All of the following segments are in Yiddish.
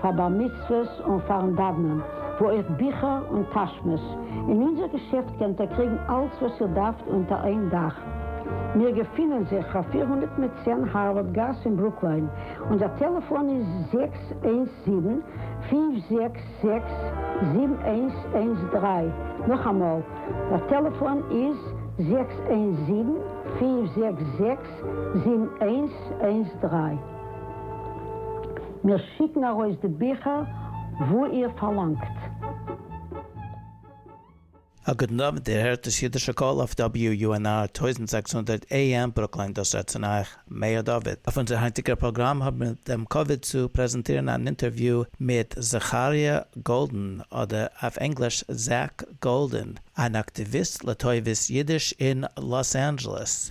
פאר בר מצוות און פארן דאוונען, וואו אויך ביכער און טאשמעס. אין אונזער געשעפט קענט איר קריגן אלץ וואס איר דארפט אונטער איין דאך. מיר געפינען זיך פאר פֿיר הונדערט מיט צען הארווארד גאס אין ברוקליין. אונזער טעלעפאן איז זעקס איינס זיבן, פֿינף זעקס זעקס, זיבן איינס איינס דרײַ. נאכאמאל, דער טעלעפאן איז זעקס איינס זיבן, פֿינף זעקס זעקס, זיבן איינס איינס דרײַ. מיר שיקן ארויס די ביכער וואו איר פארלאנגט. א גוטן אוונט, איר הערט דאס אידישע קול אויף WUNR טויזנט זעקס הונדערט AM ברוקלין, דאס רעדט צון אייך מאיר דוד. אויף אונזער היינטיגער פראגראם האבן מיר דעם כבוד צו פרעזענטירן אן אינטערוויו מיט זכריה גאלדען, אדער אויף ענגליש Zach Golden, אן אקטיוויסט לטובת אידיש אין לאס אנדזשעלעס,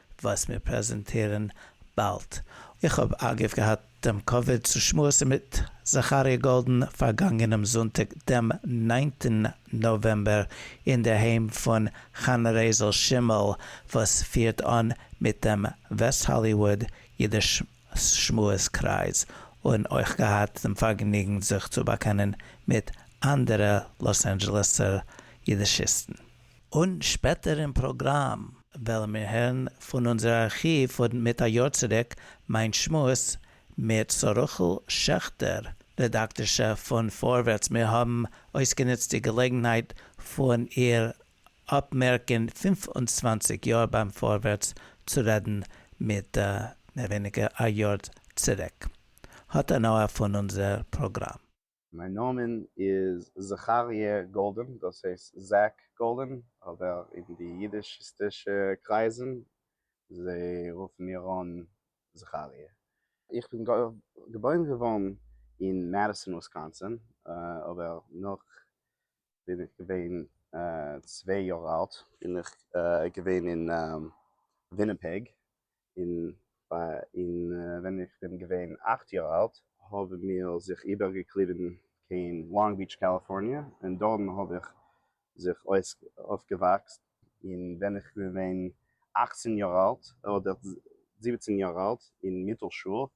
וואס מיר פרעזענטירן באלד. איך האב אגב געהאט דעם כבוד צו שמועסן מיט זכריה גאלדן פארגאנגענעם זונטאג דעם ניינטן נאוועמבער אין דער היים פון חנה רייזל שימעל וואס פירט אן מיט דעם וועסט האליוואד אידיש שמועס קרייז און אויך געהאט דעם פארגעניגן זיך צו באקענען מיט אנדערע לאס אנדזשעלעסער אידישיסטן. און שפעטער אין פראגראם וועלן מיר הערן פון אונזער ארכיוו פון מיט א יאר צוריק מיין שמועס מיט סרוח'ל שעכטער רעדאקטערשע פון פארווערטס מיר האבן אויסגענוצט די געלעגנהייט פון איר אפמערקן פֿינף און צוואַנציק יאר ביים פארווערטס צו רעדן מיט מער ווייניגער א יאר צוריק האט הנאה פון אונזער פראגראם. מיין נאמען איז זכרי' גאלדען, דאס הייסט זעק גאלדען, אבער אין די אידישיסטישע קרייזן זיי רופן מיר אן זכרי'. איך בין געבוירן געווארן אין מעדיסאן וויסקאנסין, אבער נאך בין איך געווען צוויי יאר אלט בין איך געווען אין וויניפעג, און ווען איך בין געווען אכט יאר אלט האבן מיר זיך איבערגעקליבן קיין לאנג ביעטש קאליפארניע און דארטן האב איך זיך אויפגעוואקסט, און ווען איך בין געווען אכצן יאר אלט אדער זיבעצן יאר אלט אין מיטל שול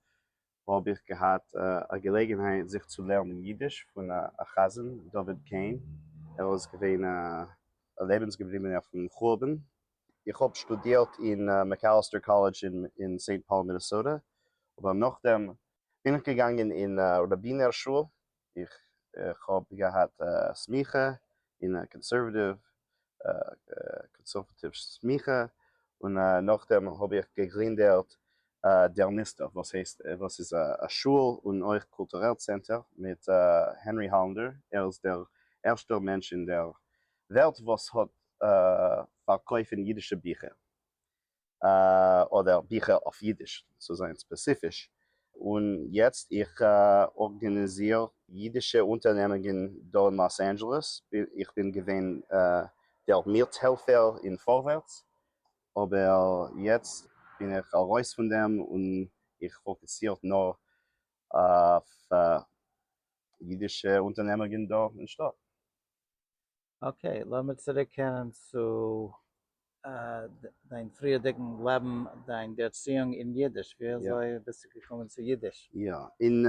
וואו האב איך געהאט א געלעגנהייט זיך צו לערנען אידיש פון א חזן דוד קען, ער איז געווען א לעבנס געבליבענער פון חורבן. איך האב שטודירט אין מעקאליסטער קאלעדזש אין סעינט פאול מינעסאטע, אבער נאכדעם בין איך געגאנגען אין ראבינער שול איך האב געהאט א סמיכה אין א קאנסערוואטיוו קאנסערוואטיוו סמיכה און נאכדעם האב איך געגרינדערט דער מוסטער וואס הייסט וואס איז א שול און אויך קולטורעל צענטער מיט הענרי האללענדער ער איז דער ערשטער מענטש אין דער וועלט וואס האט פארקויפן אידישע ביכער אדער ביכער אויף אידיש צו זיין ספעציפיש, און יעצט איך ארגאניזיר אידישע אונטערנעמונגען דא אין לאס אנדזשעלעס, איך בין געווען דער מירטהעלפער אין פארווערטס, אבער יעצט בין איך ארויס פון דעם און איך פאקוסירט נאר אויף אידישע אונטערנעמונגען דא אין שטאט. אקעי, לאמיר צוריק קערן צו דיין פריערדיגן לעבן, דיין ערציאונג אין אידיש, ווי אזוי ביסטו געקומען צו אידיש? יא, און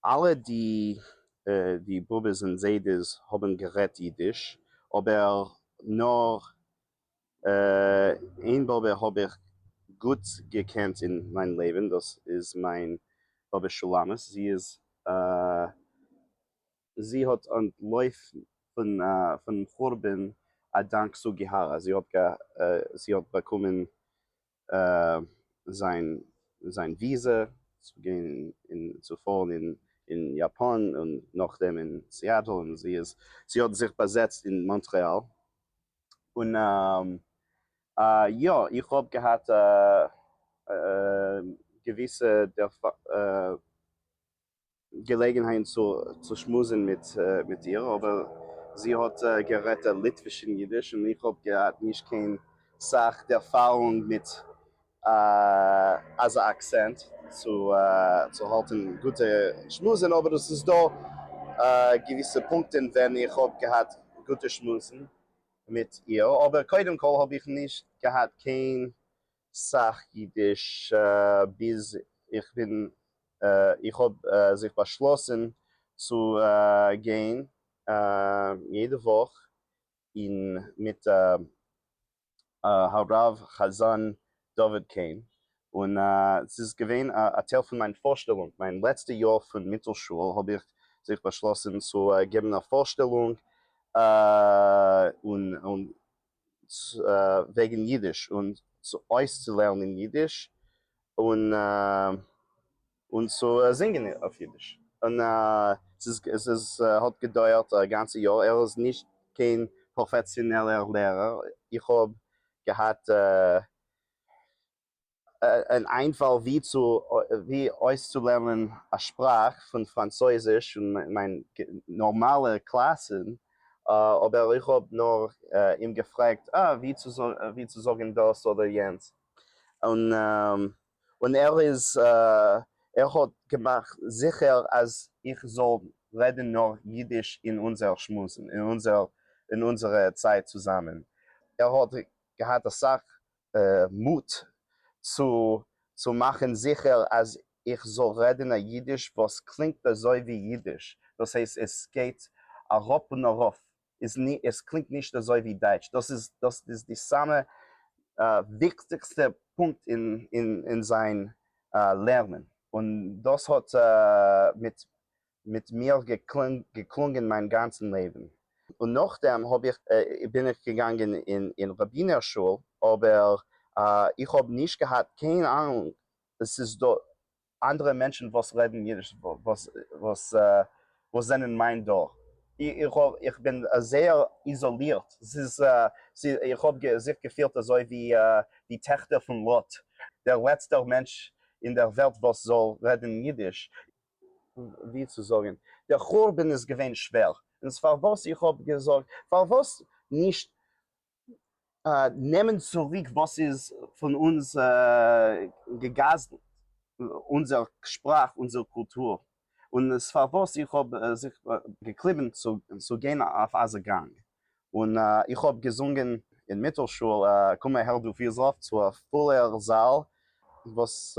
אלע די באבעס און זיידעס האבן גערעדט אידיש, אבער נאר איין באבע האב איך גוט געקענט אין מיין לעבן, דאס איז מיין באבע שולמית, זי איז זי האט אנטלויפן פון חורבן א דאנק סוגיהארא, זי האט באקומען זיין וויזע צו גיין און צו פארן אין יאפאן און נאכדעם אין סיאטעל און זי האט זיך באזעצט אין מאנטרעאל און יא איך האב געהאט א געוויסע געלעגנהייט צו שמועסן מיט איר, אבער זי האט גערעדט דער ליטוויש און אידיש, און איך האב געהאט נישט קיין סאך ערפארונג מיט אזא אקסענט צו האלטן גוטע שמועסן, אבער עס איז דא געוויסע פונקטן ווען איך האב געהאט גוטע שמועסן מיט איר, אבער קודם כל האב איך נישט געהאט קיין סאך אידיש ביז איך בין איך האב זיך באשלאסן צו גיין יעדע וואך אין מיט הרב חזן דוד קען און ס'איז געווען א טייל פון מיין פארשטעלונג מיין לעצטע יאר פון מיטל שול האב איך זיך באשלאסן צו געבן א פארשטעלונג און וועגן יידיש און צו אויסצולערנען יידיש און און צו זינגען אויף יידיש און ס'איז האט געדויערט א גאנצע יאר, ער איז נישט קיין פראפעסיאנעלער לערער, איך האב געהאט אן איינפאל ווי צו ווי אויסצולערנען א שפראך פון פראנצויזיש און מיין נארמאלע קלאסן אבער איך האב נאר אים געפרעגט אה ווי צו ווי צו זאגן דאס אדער יענץ און און ער איז ער האט געמאכט זיכער אז איך זאל רעדן נאר אידיש אין אונזער שמועסן אין אונזער אין אונזערע צייט צוזאמען ער האט געהאט אסאך מוט צו מאכן זיכער אז איך זאל רעדן א אידיש וואס קלינגט אזוי ווי אידיש, דאס הייסט עס גייט אראפ און ארויף, עס קלינגט נישט אזוי ווי דייטש, דאס איז די סאמע וויכטיגסטע פונקט אין זיין לערנען, און דאס האט מיט מיט מיר געקלונגען מיין גאנצן לעבן, און נאכדעם האב איך בין איך געגאנגען אין ראבינער שול, אבער איך האב נישט געהאט קיין אהנונג עס איז דא אנדערע מענטשן וואס רעדן אידיש וואס זענען מיין דור, איך בין זייער איזאלירט, איך האב זיך געפילט אזוי ווי די טעכטער פון לוט, דער לעצטער מענטש אין דער וועלט וואס זאל רעדן אידיש. ווי צו זאגן, דער חורבן איז געווען שווער, און ס'פארוואס איך האב געזאגט, פארוואס נישט נעמען צוריק וואס איז פון אונז געגזל'ט, אונזער שפראך, אונזער קולטור, און ס'פארוואס איך האב זיך געקליבן צו גיין אויף אזא גאנג, און איך האב געזונגען אין מיטל שול קום אהער דו פיזראפצו, א פולער זאל וואס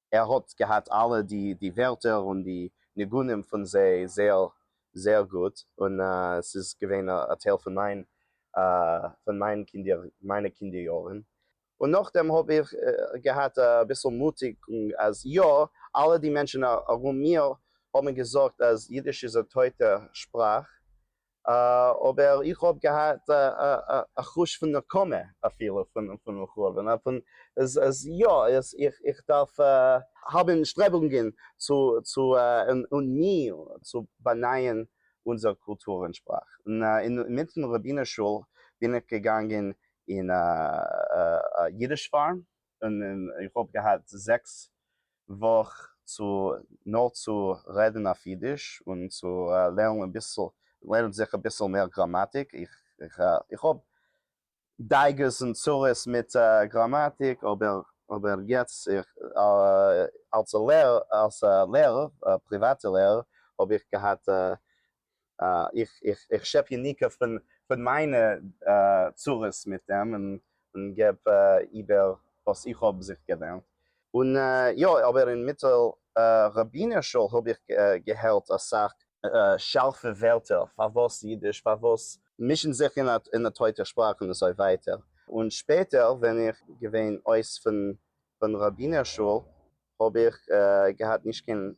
ער האט געהאט אלע די די ווערטער און די ניגונים פון זיי זייער זייער גוט, און ס'איז געווען א טייל פון מיין פון מיין קינדער מיינע קינדער יארן, און נאכדעם האב איך געהאט אביסל מוטיגונג אז יא אלע די מענטשן ארום מיר האבן געזאגט אז אידיש איז א טויטע שפראך, אבער איך האב געהאט א חוש פון נקמה אפילו פון לכאו' פון אז יא איך דארף האבן שטרעבונגען צו צו און מי צו באנייען אונזער קולטור און שפראך און אינמיטן רבינ'ס שול בין איך געגאנגען אין א אידיש פארם און איך האב געהאט זעקס וואך צו נאר צו רעדן אויף אידיש און צו לערנען אביסל לערנען זיך אביסל מער גראמאטיק, איך האב דאגות און צרות מיט גראמאטיק אבער אבער יעצט אלס א לערער פריוואטע לערער האב איך געהאט איך שעפ יניקה פון מיינע צרות מיט דעם און געב איבער וואס איך האב זיך געלערנט. און יא, אבער אין מיטל ראבינער שול האב איך געהערט אסאך. שארפע ווערטער, פארוואס אידיש, פארוואס. מישן זיך אין א טויטע שפראך און אזוי ווייטער. און שפעטער ווען איך געווען אויס פון ראבינער שול. האב איך געהאט נישט קיין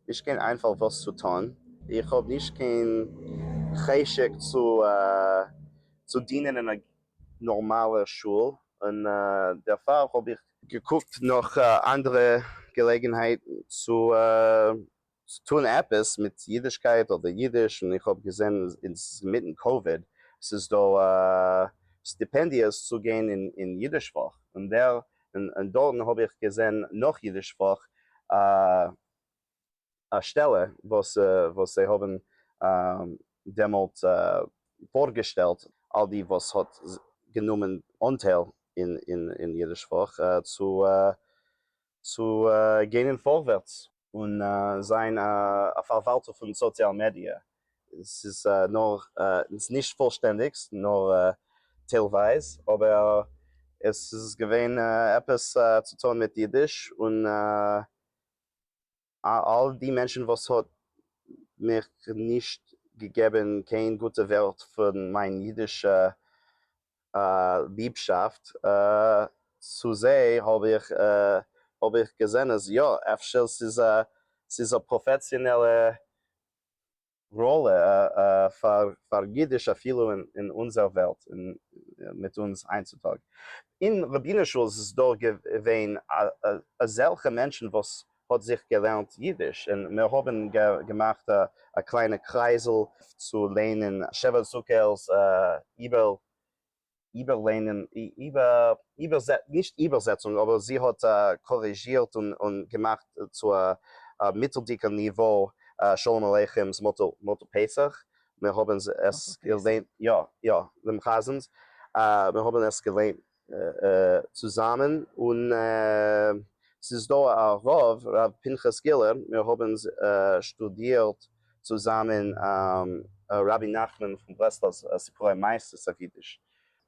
נישט קיין איינפאל וואס צו טון, איך האב נישט קיין חשק צו צו דינען אין א נארמאלער שול, און דערפאר האב איך. געקוקט נאך אנדערע געלעגנהייטן צו צו טון עפעס מיט אידישקייט אדער אידיש, און איך האב געזען אינמיטן קאוויד ס'איז דא סטיפענדיעס צו גיין אין אידיש פאך, און דער און דארטן האב איך געזען נאך אידיש פאך א שטעלע וואס וואס זיי האבן דעמאלט פארגעשטעלט אלע די וואס האט גענומען אנטייל אין אידיש פאך צו צו גיין אין פארווערטס. און זיין א פארוואלטער פון סאציאל מידיע, ס'איז נאר נישט פולשטענדיג נאר טיילווייז, אבער עס איז געווען עפעס צו טון מיט אידיש, און אלל די מענטשן וואס האט מיך נישט געגעבן קיין גוטע ווערט פון מיין אידישע ליבשאפט צו זיי האב איך האב איך געזען אז יא אפשר ס'איז א ס'איז א פראפעסיאנעלע ראלע פאר פאר אידיש אפילו אין אין אונזער וועלט מיט אונז היינט צוטאג. אין רבינ'ס שול איז דאך געווען אזעלכע מענטשן וואס האט זיך געלערנט אידיש און מיר האבן געמאכט א קליינע קרייזל צו לערנען שבע סוכות איבער איבער לערנען איבער נישט איבערזעצונג אבער זי האט קאריזשירט און געמאכט צו א מיטלדיגע ניווא שלום עליכם'ס מותו פסח מיר האבן עס געלערנט יא יא דעם חזנ'ס מיר האבן עס געלערנט צוזאמען און ס'איז דא א רב ר' פנחס גילער מיר האבן שטודירט צוזאמען רבי נחמן פון ברסלב סיפורי מעשות אויף אידיש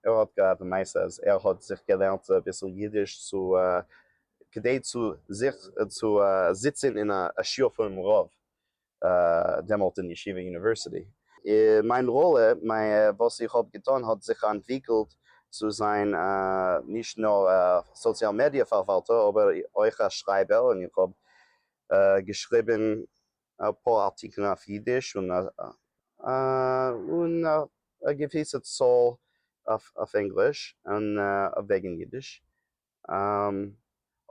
ער האט געהאט א מעשה אז ער האט זיך געלערנט אביסל אידיש צו כדי צו זיך צו זיצען אין א שיעור פונעם רב דעמאלט אין ישיבה יוניווערסיטי. מיין ראלע, וואס איך האב געטון האט זיך אנטוויקלט צו זיין נישט נאר א סאציאל מידיע פארוואלטער אבער אויך א שרייבער און איך האב געשריבן אפאר ארטיקלן אויף אידיש און און א געוויסע צאל אויף ענגליש און וועגן אידיש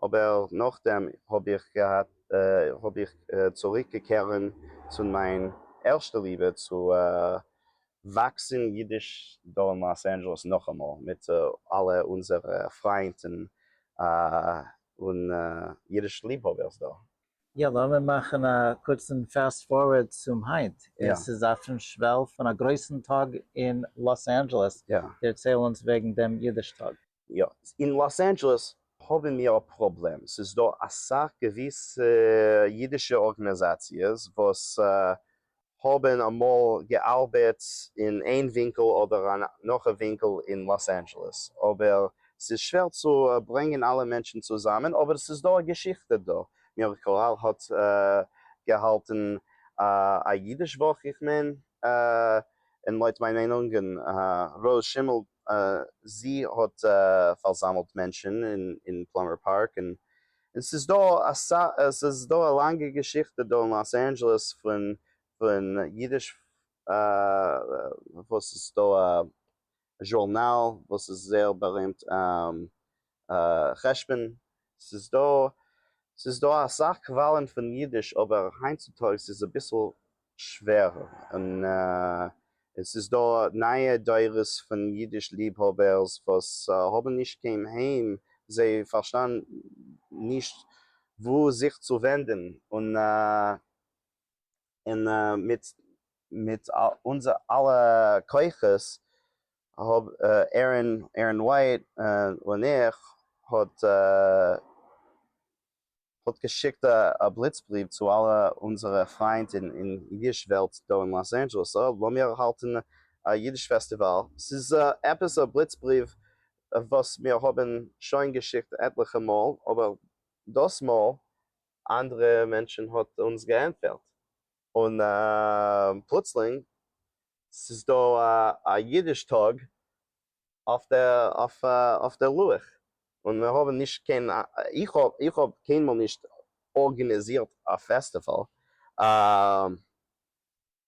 אבער נאכדעם האב איך געהאט האב איך צוריק געקערן צו מיין ערשטע ליבע צו וואקסן אידיש דא אין לאס אנדזשעלעס נאכאמאל מיט אלע אונזערע פריינט און אידיש ליבהאבערס דא. יא, לאמיר מאכן א קורצן פעסט פארווערד צום היינט, און ס'איז אויפן שוועל פון א גרויסן טאג אין לאס אנדזשעלעס, דערצייל אונז וועגן דעם אידיש טאג. יא, אין לאס אנדזשעלעס האבן מיר א פראבלעם, ס'איז דא אסאך געוויסע אידישע ארגענעזאציעס וואס האבן אמאל געארבעט אין איין ווינקל אדער נאך א ווינקל אין לאס אנדזשעלעס, אבער ס'איז שווער צו ברענגען אלע מענטשן צוזאמען, אבער ס'איז דא א געשיכטע דא, מירעקל הארט האט געהאלטן א אידיש וואך איך מיין, און לויט מיין מיינונג און ר' שימעל זי האט פארזאמלט מענטשן אין פלאמער פארק, און ס'איז דא ס'איז דא א לאנגע געשיכטע דא אין לאס אנדזשעלעס פון פון אידיש וואס ס'איז דא א זשורנאל וואס איז זייער בארימט חשבון, ס'איז דא ס'איז דא אסאך קוואלען פון אידיש אבער היינט צו טאגס איז אביסל שווער און ס'איז דא נייע דורות פון אידיש ליבהאבערס וואס האבן נישט קיין היים זיי פארשטאן נישט וואו זיך צו ווענדען און און מיט מיט אונזער אלע כוחות האב ערין ערין ווייט און איך האט האט געשיקט א בליץ בריוו צו אלע אונזערע פריינט אין אידיש וועלט דא אין לאס אנדזשעלעס אה לאמיר האלטן א אידיש פעסטיוואל ס'איז עפעס א בליץ בריוו וואס מיר האבן שוין געשיקט עטליכע מאל אבער דאס מאל אנדערע מענטשן האט אונז געענטפערט, און פלוצלינג ס'איז דא א אידיש טאג אויף דער לוח, און מיר האבן נישט קיין, איך האב איך האב קיינמאל נישט ארגענעזירט א פעסטיוואל,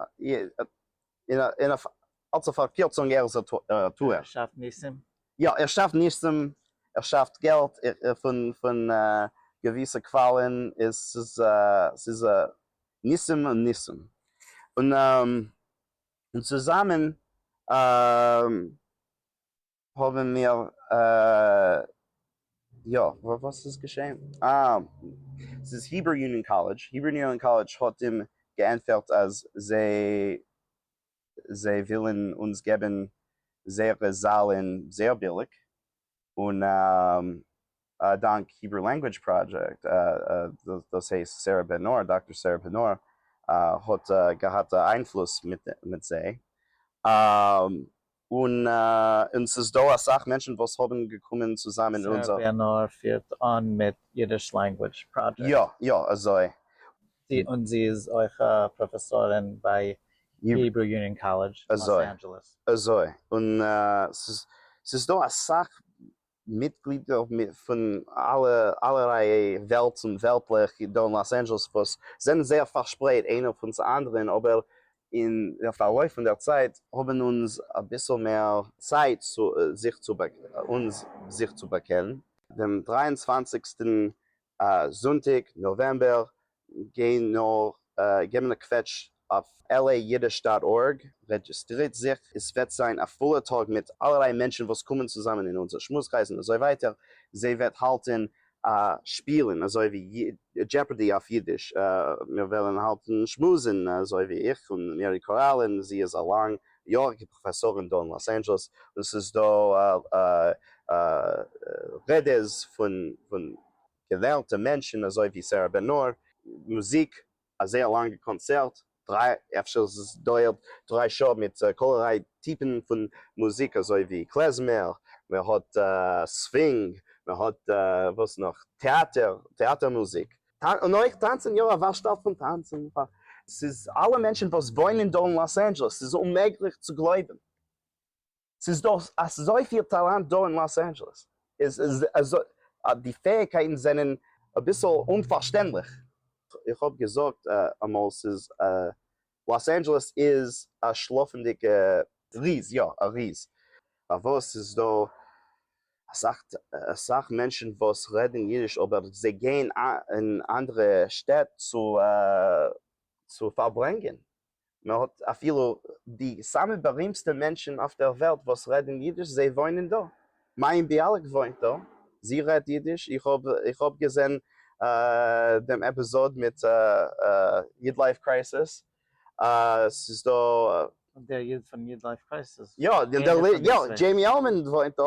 און אויף אלס א פארקירצונג ער איז א טוער. ער שאפט ניסים? יא, ער שאפט ניסים, ער שאפט געלט פון געוויסע קוואלען, ס'איז ניסים און ניסים, און צוזאמען האבן מיר יא, וואס איז געשעהן? אה ס'איז היברו יוניאן קאלעדזש, היברו יוניאן קאלעדזש האט אים געענטפערט אז זיי זיי ווילן אונז געבן זייערע זאלן זייער ביליג און א דאנק היברו לענגווידזש פראדזשעקט, דאס הייסט סערע בען נור, דאקטאר סערע בען נור האט געהאט א איינפלוס מיט זיי, און ס'איז דא אסאך מענטשן וואס האבן געקומען צוזאם אין אונזער. סערע בען נור פירט אן מיט אידיש לענגווידזש פראדזשעקט? יא, יא, אזוי. און זי איז אויך א פראפעסארין ביי היברו יוניאן קאלעדזש אין לאס אנדזשעלעס. אזוי, און ס'איז דא אסאך מיטגלידער פון אלע אלערליי וועלטס און וועלטלעך דא אין לאס אנדזשעלעס וואס זענען זייער פארשפרייט איינער פון צו אנדערען אבער אין דער פארלויף פון דער צייט האבען אונז אביסעל מער צייט זיך צו אונז זיך צו באקענען. דעם דריי און צוואנציגסטען זונטאג נאוועמבער גיי נאר געבן א קוועטש אויף LA Yiddish דאט ארג, רעדזשיסטרירט זיך, עס וועט זיין א פולער טאג מיט אלערליי מענטשן וואס קומען צוזאמען אין אונזער שמועסקרייז און אזוי ווייטער, זי וועט האלטן א שפילן אזוי ווי דזשעפארדי אויף אידיש, מיר וועלן האלטן שמועסן אזוי ווי איך און מערי קאראל און זי איז א לאנג יאריגע פראפעסאר אין דאן לאס אנדזשעלעס און ס'איז דא רעדעס פון געוועלטע מענטשן אזוי ווי סערע בן נור, מוזיק, א זייער לאנגע קאנצערט, דריי אפשר עס דויערט דריי שעה, מיט אלערליי טיפן פון מוזיק אזוי ווי קלעזמער, מען האט סווינג, מען האט וואס נאך, טעאטער, טעאטער מוזיק, און אויך טאנצען יא א ווארשטאל פון טאנצען פאר. ס'איז אלע מענטשען וואס וואוינען דא אין לאס אנדזשעלעס ס'איז אוממעגליך צו גלויבען ס'איז דא אזויפיל טאלאנט דא אין לאס אנדזשעלעס איז די פעאיגקייטען זענען אביסעל אומפארשטענדליך. איך האב געזאגט אמאל ס'איז לאס אנדזשעלעס איז א שלאפענדיגע. ריז, יא א ריז. פארוואס איז דא אסאך מענטשן וואס רעדן אידיש אבער זיי גייען אין אנדערע שטעט צו פארברענגען? מען האט אפילו די סאמע בארימסטע מענטשן אויף דער וועלט וואס רעדן אידיש זיי וואוינען דא. מיין ביאליק וואוינט דא, זי רעדט אידיש, איך האב געזען דעם עפיזאד מיט איד לייף קרייסיס, ס'איז דא. דער איד פון איד לייף קרייסיס? יא, דזשעימי עלמאן וואוינט דא,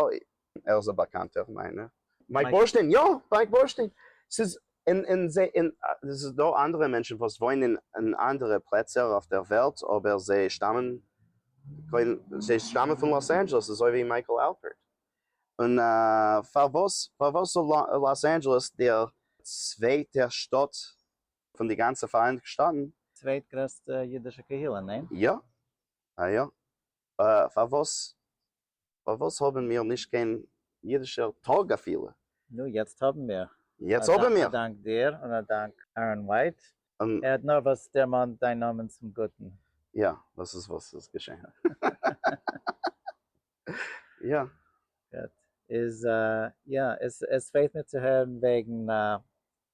ער איז א באקאנטער מיינער, מייק בורשטיין, יא מייק בורשטיין, ס'איז און און זיי און עס איז דא אנדערע מענטשן וואס וואוינען אין אנדערע פלעצער אויף דער וועלט אבער זיי שטאמען זיי שטאמען פון לאס אנדזשעלעס אזוי ווי מייקל אלפערט און פארוואס פארוואס זאל לאס אנדזשעלעס דער צווייטע שטאט פון די גאנצע פאראייניגטע שטאטן. צווייט גרעסטע אידישע קהילה, ניין? יא א יא פארוואס פארוואס האבן מיר נישט קיין אידישער טאג אפילו? נו יעצט האבן מיר. יעצט האבן מיר. א דאנק דיר און א דאנק אהרן ווייט, ער האט נארוואס דערמאנט דיין נאמען צום גוטן. יא, דאס איז וואס איז געשען. יא. גוט. איז יא, עס פעלט מיר צו הערן וועגן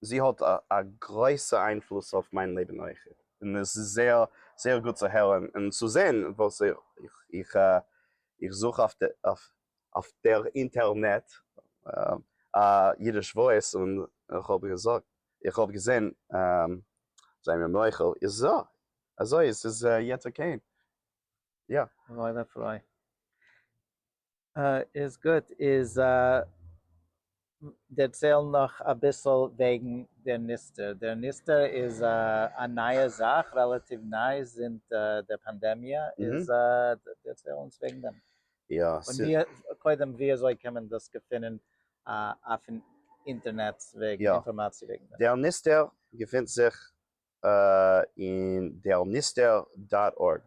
זי האט א גרויסע איינפלוס אויף מיין לעבן אויך, און עס איז זייער זייער גוט צו הערן און צו זען וואס איך איך זוך אויף אויף דער אינטערנעט א אידיש וואויס און איך האב געזאגט איך האב געזען זיי מיר מוחל איז זא אזוי עס איז יעצט אקעי יא. וואוילע פרוי. איז גוט, איז דערצייל נאך אביסל וועגן דער ניסתר, דער ניסתר איז א נייע זאך, רעלאטיוו ניי זינט דער פאנדעמיע, איז דערצייל אונז וועגן דעם, און קודם ווי אזוי קען מען דאס געפינען אויפן אינטערנעט וועגן אינפארמאציע וועגן דעם. דער ניסתר געפינט זיך אין דער ניסטער דאט ארג,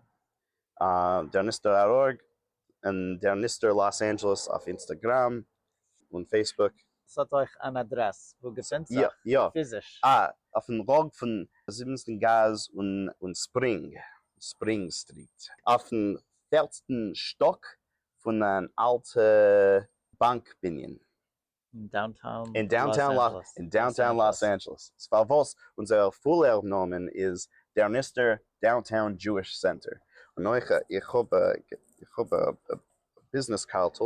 דער ניסטער דאט ארג, און דער ניסטער לאס אנדזשעלעס אויף אינסטעגראם און פעיסבוק. עס האט אויך אן אדרעס וואו געפינט זיך פיזיש? יא, אויפן ראג פון זיבענטן גאס און ספרינג ספרינג סטריט. אויפן פערטן שטאק פון אן אלטע באנק בנין. אין דאונטאון לאס אנדזשעלעס איז פארוואס אונזער פולער נאמען איז דערניסטער דאונטאון דזשואיש סענטער. און אויך איך האב א ביזנעס קארטל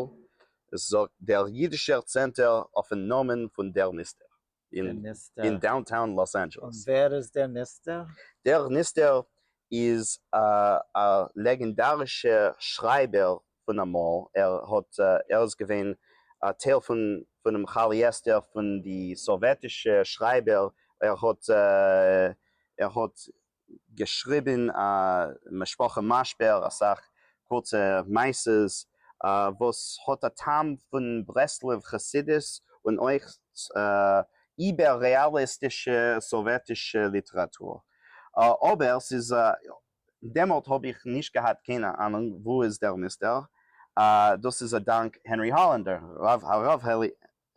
עס זאגט דער אידישער צענטער אויפן נאמען פון דערניסטער אין דאונטאון לאס אנדזשעלעס. און ווער איז דערניסטער? דערניסטער איז א לעגענדארישע שרייבער פון אמאל, ער האט ער איז געווען א טייל פון פונעם כאליעסטער פון די סאוועטישע שרייבער, ער האט ער האט געשריבען א משפחה משבר, אסאך קורצע מעשות וואס האט א טעם פון ברסלב חסידות און אויך איבער רעאליסטישע סאוועטישע ליטעראטור, אבער ס'איז דעמאלט האב איך נישט געהאט קיינע אנונג וואו איז דער מוסטער, אה דאס איז א דאנק הענרי האלענדער, הרב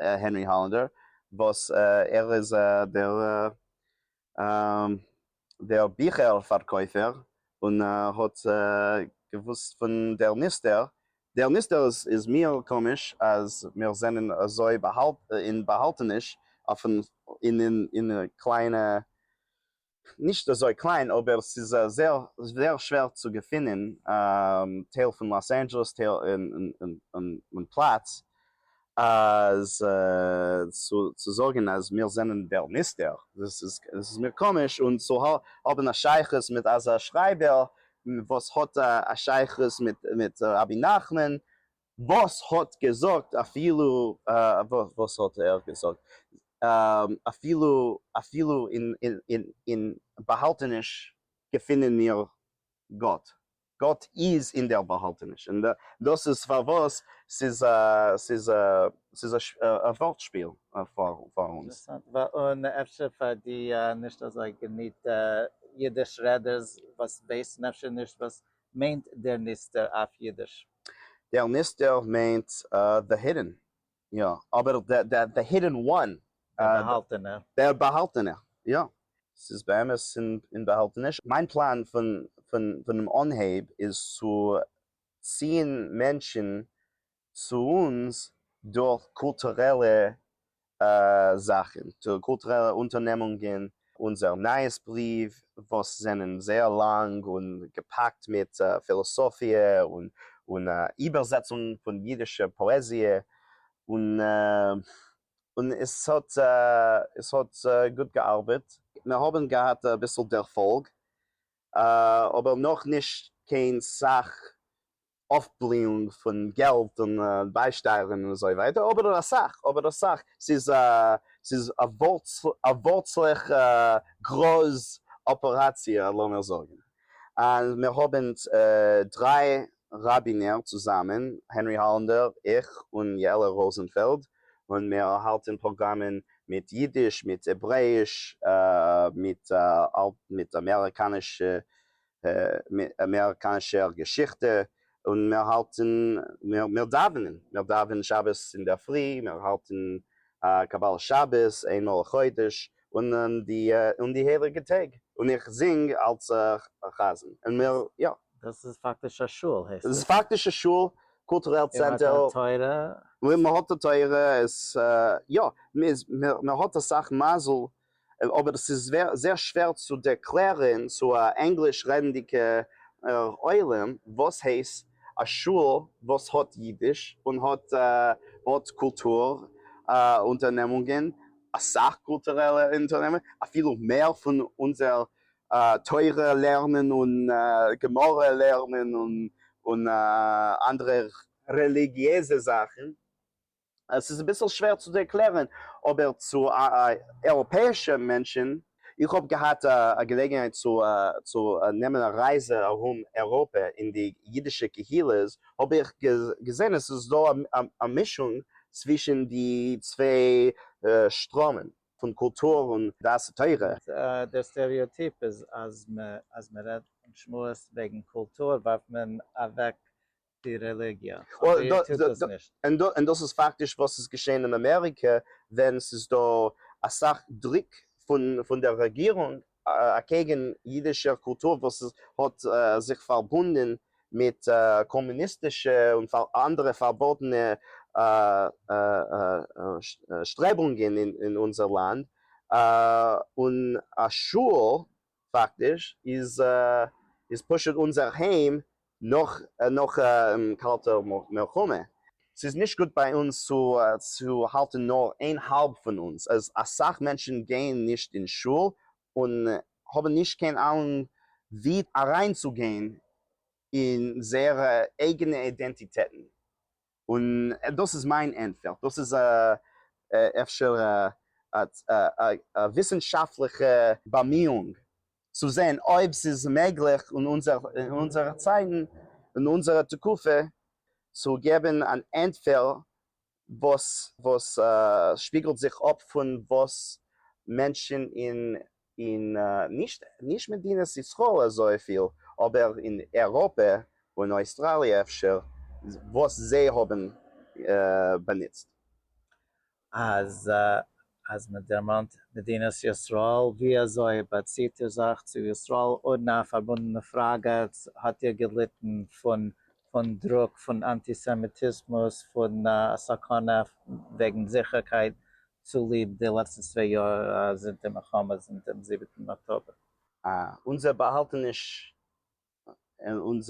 הענרי האלענדער, וואס ער איז דער דער ביכער פארקויפער און האט געוואוסט פון דער מוסטער, דער מוסטער איז מיר קאמיש אז מיר זענען אזוי אין באהאלטעניש אויפן אין קליינע נישט אזוי קליין אבער ס'איז זייער זייער שווער צו געפינען טייל פון לאס אנדזשעלעס טייל און פלאץ אז צו זאגן אז מיר זענען דער מוסטער דאס איז מיר קאמיש און צו האבן א שייכות מיט אזא שרייבער וואס האט א שייכות מיט רבי נחמן וואס האט געזאגט אפילו וואס האט ער געזאגט אפילו אפילו אין אין אין באהאלטעניש געפינען מיר גאט, גאט איז אין דער באהאלטעניש, און דאס איז פארוואס ס'איז א ס'איז א ס'איז א ווארט שפיל פאר פאר אונז. און אפשר פאר די נישט אזוי געניטע אידיש רעדערס וואס ווייסן אפשר נישט וואס מיינט דער נסתר אויף אידיש. דער נסתר מיינט די הידען, יא, אבער די הידען וואן. דער באהאלטענער. דער באהאלטענער, יא. ס'איז באמת אין באהאלטעניש. מיין פלאן פונעם אנהייב איז צו ציען מענטשן צו אונז דורך קולטורעלע זאכן, קולטורעלע אונטערנעמונגען, אונזער נייעס בריוו וואס זענען זייער לאנג און געפאקט מיט פילאסאפיע און איבערזעצונגן פון אידישע פאעזיע, און עס האט גוט געארבעט. מיר האבן געהאט אביסל דערפאלג, אבער נאכנישט קיין סאך אויפבליאונג פון געלט און ביישטייערן און אזוי ווייטער, אבער אויף אסאך, אבער אויף אסאך, ס'איז א, ס'איז א ווארצלעך גראז אפעראציע לאמיר זאגן. אז מיר האבן דריי ראבינער צוזאמען, הענרי האלענדער, איך, און יעלה ראזענפעלד, און מיר האלטן פראגראמען מיט אידיש, מיט העברעאיש, מיט מיט אמעריקאנישע מער קיין שער געשיכטע, און מיר האלטן מיר דאווענען, מיר דאווענען שבת אינדערפרי, מיר האלטן א קבלת שבת איין מאל א חודש, און די הייליגע טעג, און איך זינג אלס א חזן, און מיר יא. דאס איז פאקטיש א שול הייסט עס? דאס איז פאקטיש א שול, קולטורעל צענטער. און מ'האט א תורה? און מ'האט א תורה, עס יא, מ'האט אסאך מזל אבער ס'איז זייער שווער צו ערקלערן צו א ענגליש רעדנדיגער עולם וואס הייסט א שול וואס האט אידיש און האט קולטור אונטערנעמונגען, אסאך קולטורעלע אונטערנעמונגען, אפילו מער פון אונזער תורה לערנען און גמרא לערנען און אנדערע רעליגיעזע זאכן. עס איז אביסל שווער צו ערקלערן אבער צו אייראפעאישע מענטשן. איך האב געהאט א געלעגנהייט צו נעמען א רייזע ארום אייראפע אין די אידישע קהילות האב איך געזען עס איז דא א מישונג צווישן די צוויי שטראמען פון קולטור און דעת תורה. דער סטעריאטיפ איז אז מען רעדט און שמועסט וועגן קולטור ווארפט מען אוועק די רעליגיע, אבער איר טוט דאס נישט. און דאס איז פאקטיש וואס איז געשען אין אמעריקע ווען ס'איז דא אסאך דרוק פון דער רעגירונג אקעגן אידישער קולטור וואס האט זיך פארבונדן מיט קאמוניסטישע און אנדערע פארבאטענע שטרעבונגען אין אונזער לאנד, און א שוהל פאקטיש איז פשוט אונזער היים נאך קאלטע מלחמה. ס'איז נישט גוט ביי אונז צו האלטן נאר איין האלב פון אונז, אז אסאך מענטשן גייען נישט אין שול און האבן נישט קיין אהנונג ווי אריינצוגיין אין זייערע אייגענע אידענטיטעטן. און דאס איז מיין ענטפער, דאס איז אפשר א וויסנשאפטליכע באמיאונג צו זען אויב ס'איז מעגליך אין אונזערע צייטן, אין אונזערע תקופה, צו געבן אן ענטפער וואס שפיגלט זיך אפ פון וואס מענטשן אין אין נישט מדינת ישראל אזויפיל, אבער אין אירופה און אויסטראליע אפשר, וואס זיי האבן באנוצט. אז מען דערמאנט מדינת ישראל, ווי אזוי באציט איר זיך צו ישראל? אן א פארבונדענע פראגע, האט איר געליטן פון דרוק פון אנטיסעמיטיזמוס, פון א סכנה וועגן זיכערקייט צוליב די לעצטע צוויי יאר זינט די מלחמה זינט דעם זיבעטן אקטאבער. אונזער באהאלטעניש און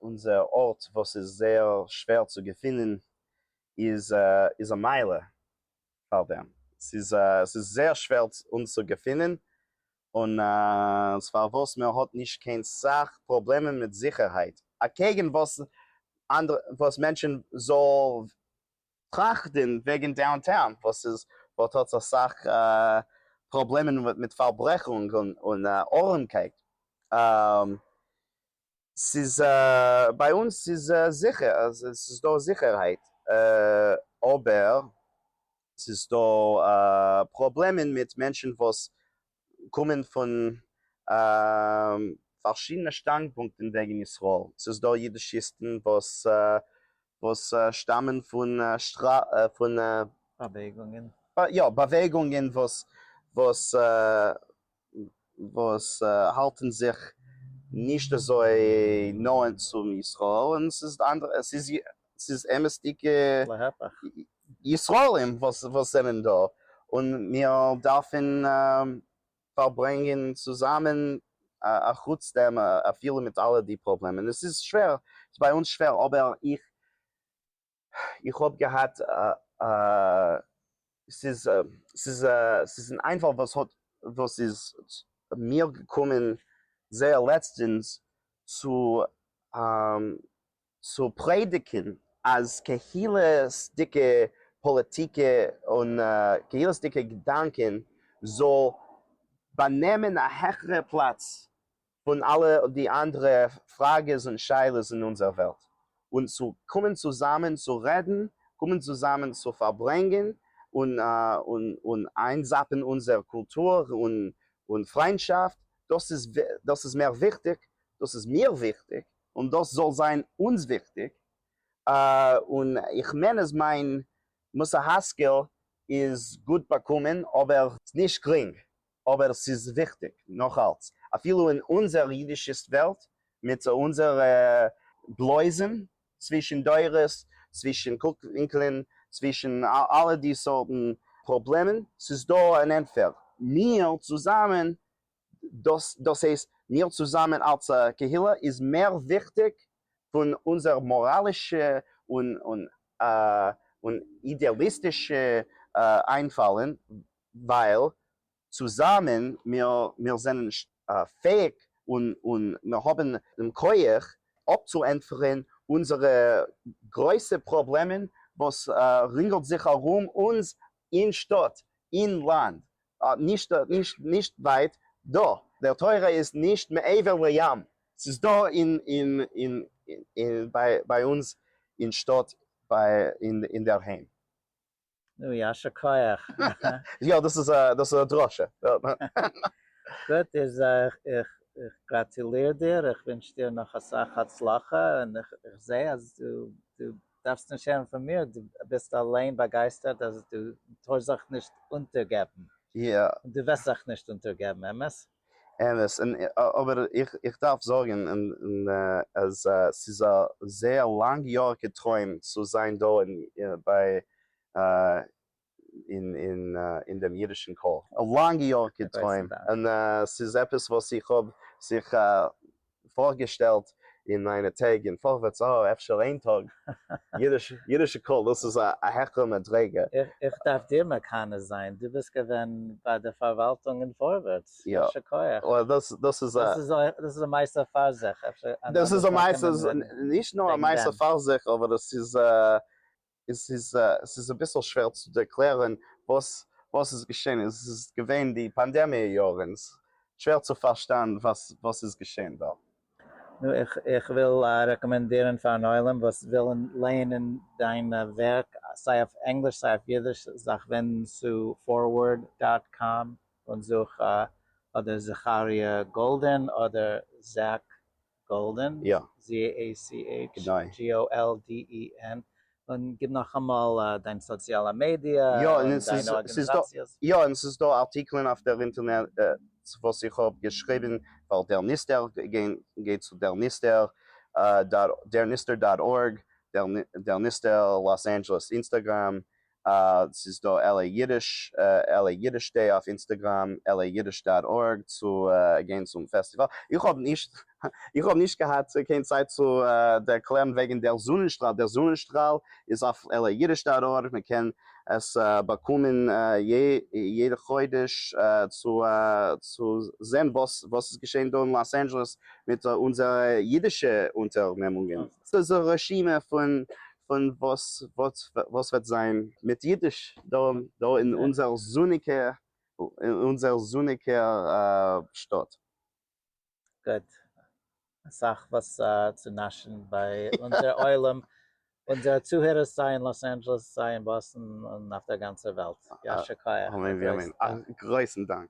אונזער ארט וואס איז זייער שווער צו געפינען איז א מעלה פאר דעם. ס'איז זייער שווער אונז צו געפינען און ס'איז פארוואס מען האט נישט קיין סאך פראבלעמען מיט זיכערהייט אקעגן וואס מענטשן זאל טראכטען וועגען דאונטאון וואס איז וואס האט אסאך פראבלעמען מיט פארברעכונג און ארעמקייט ס'איז ביי אונז ס'איז זיכער ס'איז דא זיכערהייט אבער ס'איז דא פראבלעמען מיט מענטשען וואס קומען פון פארשידענע שטאנדפונקטן וועגן ישראל. ס'איז דא אידישיסטן וואס וואס שטאמען פון פון באוועגונגען. יא, באוועגונגען וואס וואס וואס האלטן זיך נישט אזוי נאנט צו ישראל, און ס'איז אנדערע, ס'איז ס'איז אמת'דיגע ישראלים וואס זענען דא, און מיר דארפן פארברענגען צוזאמען אחוץ דעם אפילו מיט אלע די פראבלעמען. עס איז שווער, ס'איז ביי אונז שווער, אבער איך האב געהאט, ס'איז אן איינפאל וואס איז מיר געקומען זייער לעצטענס, צו צו פרעדיגן אז קהילה'סדיגע פאליטיק און קהילה'סדיגע געדאנקען זאל באנעמען א העכערע פלאץ פון אלע די אנדערע פראגעס און שאלות אין אונזער וועלט, און צו קומען צוזאמען צו רעדן, קומען צוזאמען צו פארברענגען און איינזאפן אונזער קולטור און פריינטשאפט, דאס איז מער וויכטיג, דאס איז מיר וויכטיג, און דאס זאל זיין אונז וויכטיג, און איך מיין אז מיין מוסר השכל איז גוט באקומען, אבער. נישט גרינג, אבער ס'איז וויכטיג נאך אלץ, אפילו אין אונזער אידישיסט וועלט, מיט אונזער בלויזן צווישן דורות, צווישן קוק-ווינקלען, צווישן אלע די סארטן פראבלעמען, ס'איז דא אן ענטפער, מיר צוזאמען דאס דאס הייסט מיר צוזאמען אלס א קהילה איז מער וויכטיג פון אונזער מאראלישע און און אידעאליסטישע איינפאלען ווייל צוזאמען מיר מיר זענען פעאיג און און מיר האבען דעם כח אפצוענטפערען אונזערע גרויסע פראבלעמען וואס רינגעלט זיך ארום אונז אין שטאט אין לאנד נישט נישט נישט ווייט דא, דער תורה איז נישט מעבר לים, ס'איז דא אין אין אין אין ביי ביי אונז אין שטאט ביי אין אינדערהיים. נו יישר כח. יא דאס איז א דאס איז א דרשה. גוט איז איך איך איך גראטוליר דיר, איך ווינטש דיר נאך אסאך הצלחה, און איך איך זעה אז דו דו. דארפסט נישט הערן פון מיר, דו ביסט אליין באגייסטערט אז דו טארסט זיך נישט אונטערגעבן. יא. און דו וועסט זיך נישט אונטערגעבן, אמת? אמת, און אבער איך דארף זאגן אז ס'איז א זייער לאנג יאריקע טרוים צו זיין דא ביי אין דעם אידישן קול א לאנגע יאר כתוים, און ס'איז עפעס וואס איך האב זיך פארגעשטעלט אין מיינע טעג און פארווערטס, אה, אפשר איין טאג, אידישע קול, דאס איז א העכערע מדריגה. איך דארף דיר מקנא זיין, דו ביסט געווען ביי די פארוואלטונג אין פארווערטס, יישר כח. דאס איז א מעשה פאר זיך. דאס איז א מעשה, נישט נאר א מעשה פאר זיך, אבער דאס איז און ס'איז ס'איז אביסל שווער צו ערקלערן וואס וואס איז געשען און ס'איז געווען די פאנדעמיע יארן, ס'איז שווער צו פארשטיין וואס וואס איז געשען דארט. נו, איך איך וויל רעקאמענדירן פארן עולם וואס ווילן לייענען דיין ווערק סיי אויף ענגליש סיי אויף אידיש, זיך ווענדן צו פארווארד דאט קאם און זוך אדער זכריה גאלדען אדער זשעק גאלדען, יא. גענוי. GOLDEN, און גיב נאכאמאל דיין סאציאלע מידיע יא, און דיינע ארגענעזאציעס. יא, און ס'איז דא ארטיקלען אויף דער אינטערנעט וואס איך האב געשריבן פאר דער ניסטער, גיי צו דער ניסטער דאט ארג, דער ניסטער לאס אנדזשעלעס אינסטעגראם, ס'איז דא LA אידיש, LA אידיש דעי אויף אינסטעגראם, LAidish דאט ארג צו גיין צום פעסטיוואל. איך האב נישט איך האב נישט געהאט קיין צייט צו ערקלערן וועגן דער זונענשטראל. דער זונענשטראל איז אויף LA אידיש דאט ארג, מען קען עס באקומען יעדע חודש צו צו זען וואס וואס איז געשען דא אין לאס אנדזשעלעס מיט אונזערע אידישע אונטערנעמונגען. ס'איז א רשימה פון פון וואס וואס וועט זיין מיט אידיש דא דא אין אונזער זוניגע אין אונזער זוניגע שטאט? גוט. אסאך וואס צו נאשן ביי אונזער עולם, אונזערע צוהערערס סיי אין לאס אנדזשעלעס סיי אין באסטן און אויף דער גאנצער וועלט. יישר כח. אמן ואמן. א גרויסן דאנק.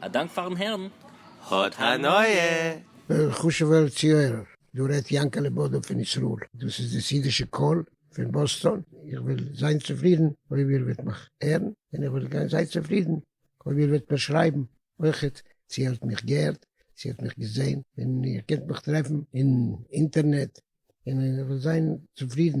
א דאנק פארן הערן, האט הנאה! חשוב'ער צוהערער, דא רעדט יענקעלע בודא פון ישראל, דאס איז די סעידישע קול פון באסטאן, איך וועל זיין צופרידן אויב איר וועט מיך הערן, און איך וועל גיין זייער צופרידן אויב איר וועט מיר שרייבן אויכעט צו איר האט מיך געהערט, צו איר האט מיך געזען, און איר קענט מיך טרעפן אין אינטערנעט, און איך וועל זיין צופרידן.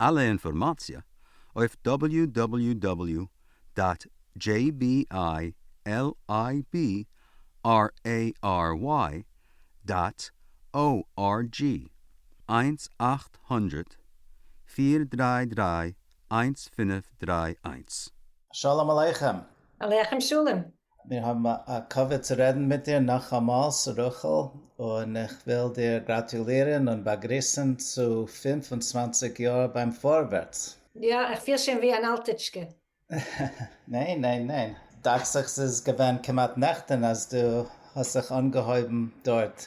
אלע אינפארמאציע אויף דאבעליו דאבעליו דאבעליו דאט דזשעי בי איי על איי בי אר עי אר וויי דאט או אר דזשי, איינס אַכט הונדערט פֿיר דרײַ דרײַ איינס פֿינף דרײַ איינס. שלום עליכם! עליכם שלום! מיר האבן א כבוד צו רעדן מיט דיר נאכאמאלס רחל, און איך וויל דיר גראטולירן און באגריסן צו פֿינף און צוואַנציק יאר ביים פארווערטס. יא, איך פיל שוין ווי אן אלטיטשקע. ניין ניין ניין, דאכט זיך ס'איז געווען כמעט נעכטן אז דו האסט זיך אנגעהויבן דארט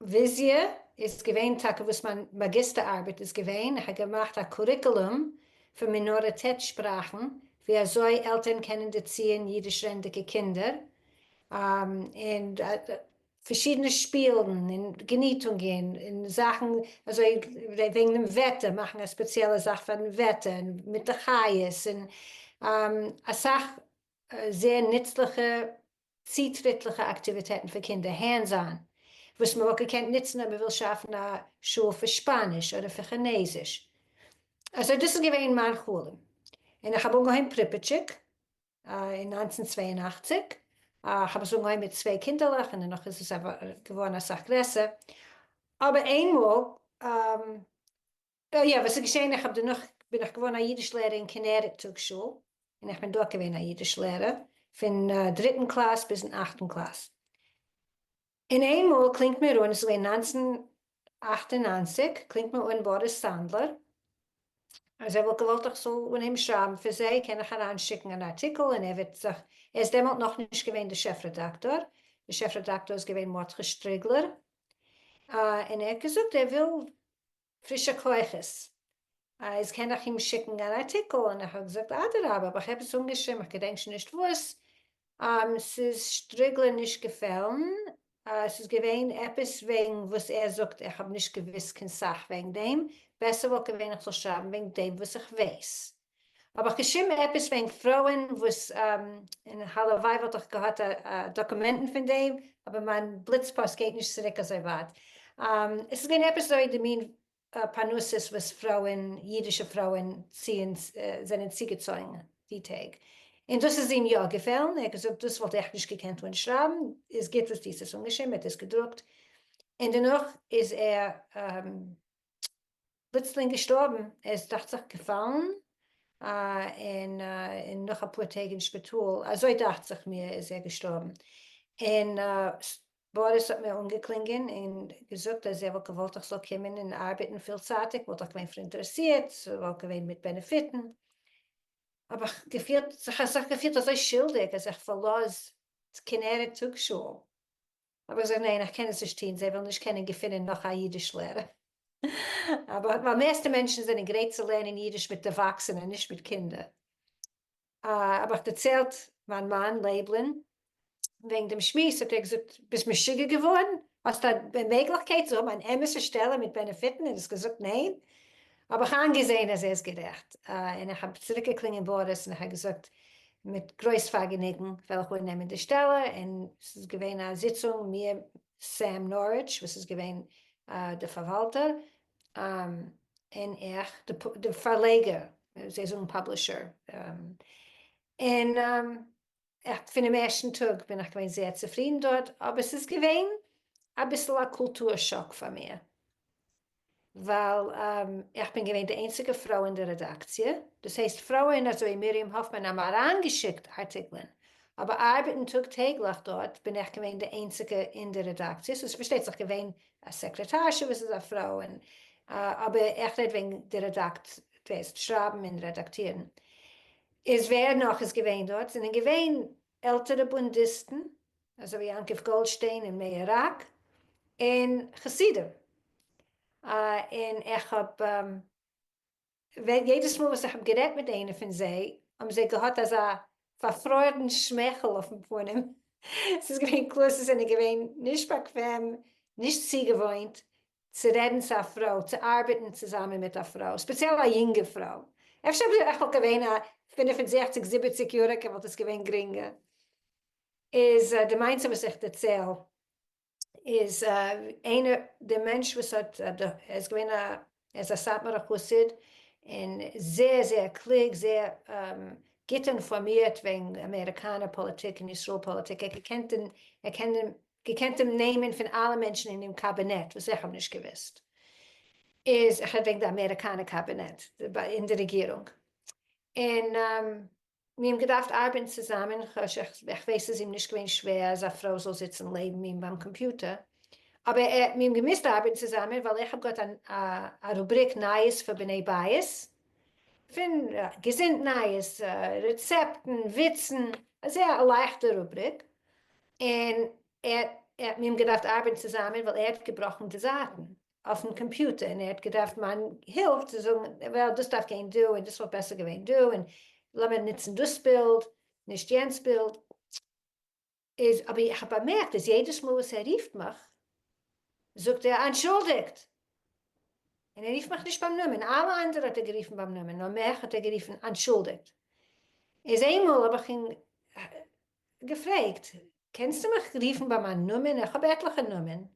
וויזיע איז געווען טאקע וואס מיין מאגיסטער ארבעט איז געווען, איך האב געמאכט א קוריקולום פון מינאריטעט שפראכן ווי אזוי עלטערן קענען דערציען אידיש רעדנדיגע קינדער, און פארשידענע שפילן און געניטונגען און זאכן אזוי וועגן דעם וועטער, מאכן א ספעציעלע זאך פארן וועטער מיט די חיות, און אסאך זייער נוצליכע צוטריטליכע אקטיוויטעטן פאר קינדער, הענדס אן, וואס מען וואלט געקענט נוצן אויב מען וויל שאפן א שול פאר שפאניש אדער פאר כינעזיש. אזוי דאס איז געווען מיין חלום, און איך האב אנגעהויבן פריפיטשיק אין נײַנצן צוויי און אַכציק, איך האב עס אנגעהויבן מיט צוויי קינדערלעך און דערנאך איז עס געווארן אסאך גרעסער, אבער איינמאל. יא, וואס איז געשען, איך האב דערנאך בין איך געווארן א אידיש לערער אין כנרת טאגשול, און איך בין דארט געווען א אידיש לערער פון דריטן קלאס ביזן אכטן קלאס, און איינמאל קלינגט מיר אן, עס איז געווען נײַנצן אַכט און נײַנציק, קלינגט מיר אן באריס סאנדלער אז ער וואלט געוואלט איך זאל אנהייבן שרייבן פאר זיי, קען איך אריין שיקן אן ארטיקל און ער וועט זיך, ער איז דעמאלט נאכנישט געווען די שעף רעדאקטאר, די שעף רעדאקטאר איז געווען מרדכי שטריגלער, און ער האט געזאגט ער וויל פרישע כוחות. איז קען איך אים שיקן אן ארטיקל? און איך האב געזאגט אדרבה, האב איך עפעס אנגעשריבן, איך געדענק שוין נישט וואס, ס'איז שטריגלען נישט געפעלן, ס'איז געווען עפעס וועגן וואס ער זאגט, איך האב נישט געוואוסט קיין סאך וועגן דעם, בעסער וואלט געווען איך זאל שרייבן וועגן דעם וואס איך ווייס. האב איך געשריבן עפעס וועגן פרויען וואס, און הלוואי וואלט איך געהאט דאקומענטן פון דעם, אבער מיין בליץ פאסט גייט נישט צוריק אזוי ווייט. עס איז געווען עפעס אזוי די מין פרנסות וואס פרויען, אידישע פרויען, ציען, זענען צוגעצויגן די טעג, און דאס איז אים יא געפעלן, ער האט געזאגט דאס וואלט איך נישט געקענט אנשרייבן, איז גוט וואס דו האסט עס אנגעשריבן, ער האט עס געדרוקט, און דערנאך איז ער פלוצלינג געשטארבן, ער איז דאכט זיך געפאלן און און נאך אפאר טעג אין שפיטאל, אזוי דאכט זיך מיר איז ער געשטארבן, און באריס האט מיר אנגעקלינגען און געזאגט אז ער וואלט געוואלט איך זאל קומען און ארבעטן פילצייטיג, וואלט איך געווען פאראינטערעסירט, ס'וואלט געווען מיט בענעפיטן, האב איך געפילט זיך אזוי שולדיג אז איך פארלאז כנרת טאג שול. האב איך געזאגט ניין איך קען עס נישט טון זיי וועלן נישט קענען געפינען נאך א אידיש לערער ווייל מערסטע מענטשן זענען גרייט צו לערנען אידיש מיט דערוואקסענע נישט מיט קינדער האב איך דערציילט מיין מאן לייבלען וועגן דעם שמועס האט ער געזאגט ביסט משוגע געווארן האסט א מעגליכקייט צו האבן אן אמת'ע שטעלע מיט בענעפיטן און האסט געזאגט ניין האב איך איינגעזעהן אז ער איז גערעכט, און איך האב צוריקגעקלינגען באריס און איך האב געזאגט, מיט גרויס פארגעניגן וועל איך אננעמען די שטעלע, און ס'איז געווען א זיצונג מיר, סעם נאריטש וואס איז געווען די פארוואלטער, און איך, די פארלעגער, זיי זאגן פאבלישער, און איך פונעם ערשטן טאג בין איך געווען זייער צופרידן דארט, אבער ס'איז געווען אביסל א קולטור שאק פאר מיר, ווייל איך בין געווען די איינציגע פרוי אין די רעדאקציע, דאס הייסט פרויען אזוי מרים האפמאן האבן אריינגעשיקט ארטיקלען, אבער ארבעטן טאג טעגליך דארט בין איך געווען די איינציגע אין די רעדאקציע, ס'איז פארשטייט זיך געווען א סעקרעטארשע וואס איז א פרוי, אבער איך רעד וועגן די רעדאקציע, שרייבן און רעדאקטירן. איז ווער נאך איז געווען דארט? זענען געווען עלטערע בונדיסטן אזוי ווי יעקב גאלדשטיין און מאיר ראק און חסידים און איך האב ווען יעדעס מאל וואס איך האב גערעדט מיט איינע פון זיי האבן זיי געהאט אזא פארפרוירן שמייכל אויפן פנים ס'איז געווען קלאר זיי זענען געווען נישט באקוועם נישט צוגעוואוינט צו רעדן צו א פרוי, צו ארבעטן צוזאמען מיט א פרוי, ספעציעל א יונגע פרוי, אפשר אויב איך וואלט געווען א פֿינף און זעכציק זיבעציק יעריגע וואלט עס געווען גרינגער, איז די מעשה וואס איך דערצייל איז איינער די מענטש וואס האט ער איז געווען א ער איז א סאטמארע חסיד און זייער זייער קלוג זייער גוט אינפארמירט וועגן אמעריקאנער פאליטיק און ישראל פאליטיק ער קען געקענט דעם נעמען פון אלע מענטשן אין דעם קאבינעט וואס איך האב נישט געוואוסט איז איך רעד וועגן די אמעריקאנע קאבינעט אין די רעגירונג און מיר האבן געדארפט ארבעטן צוזאמען איך ווייס ס'איז אים נישט געווען שווער אז א פרוי זאל זיצן לעבן אים ביים קאמפיוטער אבער מיר האבן געמוזט ארבעטן צוזאמען ווייל איך האב געהאט א רובריק נייעס פאר בני בית. פון געזונט נייעס, רעצעפטן, וויצן, אזוי א לייכטע רובריק, און ער האט מיר געדארפט ארבעטן צוזאמען ווייל ער האט געבראכן די זייטן אויפן קאמפיוטער און ער האט געדארפט מיין הילף צו זאגן וועל דאס דארף גיין דא און דאס וואלט בעסער געווען דא און לאמיר נוצן דאס בילד נישט יענץ בילד. איז אבער איך האב באמערקט אז יעדעס מאל וואס ער רופט מיך זאגט ער אנטשולדיגט און ער רופט מיך נישט ביים נאמען, אלע אנדערע האט ער גערופן ביים נאמען נאר מיך האט ער גערופן אנטשולדיגט, איז איינמאל האב איך אים געפרעגט קענסטו מיך רופן ביי מיין נאמען איך האב עטליכע נאמען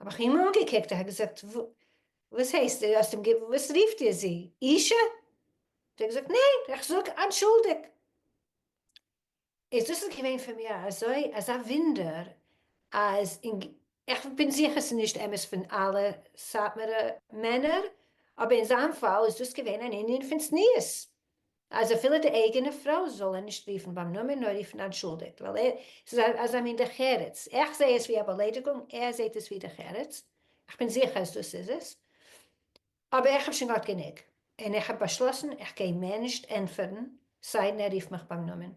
האב איך אים אנגעקוקט, איך האב געזאגט וואס הייסט דו האסט אים גע וואס רופט איר זי אישה? האט ער געזאגט ניין איך זאג אנטשולדיג. איז דאס איז געווען פאר מיר אזוי אזא ווינדער אז אין ג איך בין זיכער ס'איז נישט אמת פון אלע סאטמארע מענער אבער אין זיין פאל איז דאס געווען אן ענין פון צניעות אז אפילו די אייגענע פרוי זאל ער נישט רופן ביים נאמען נאר רופן אנטשולדיגט ווייל ער ס'איז א אזא מין דרך ארץ איך זעה עס ווי א באליידיגונג ער זעהט עס ווי דרך ארץ איך בין זיכער אז דאס איז עס אבער איך האב שוין געהאט גענוג און איך האב באשלאסן איך גיי מער נישט ענטפערן סיידן ער רופט מיך ביים נאמען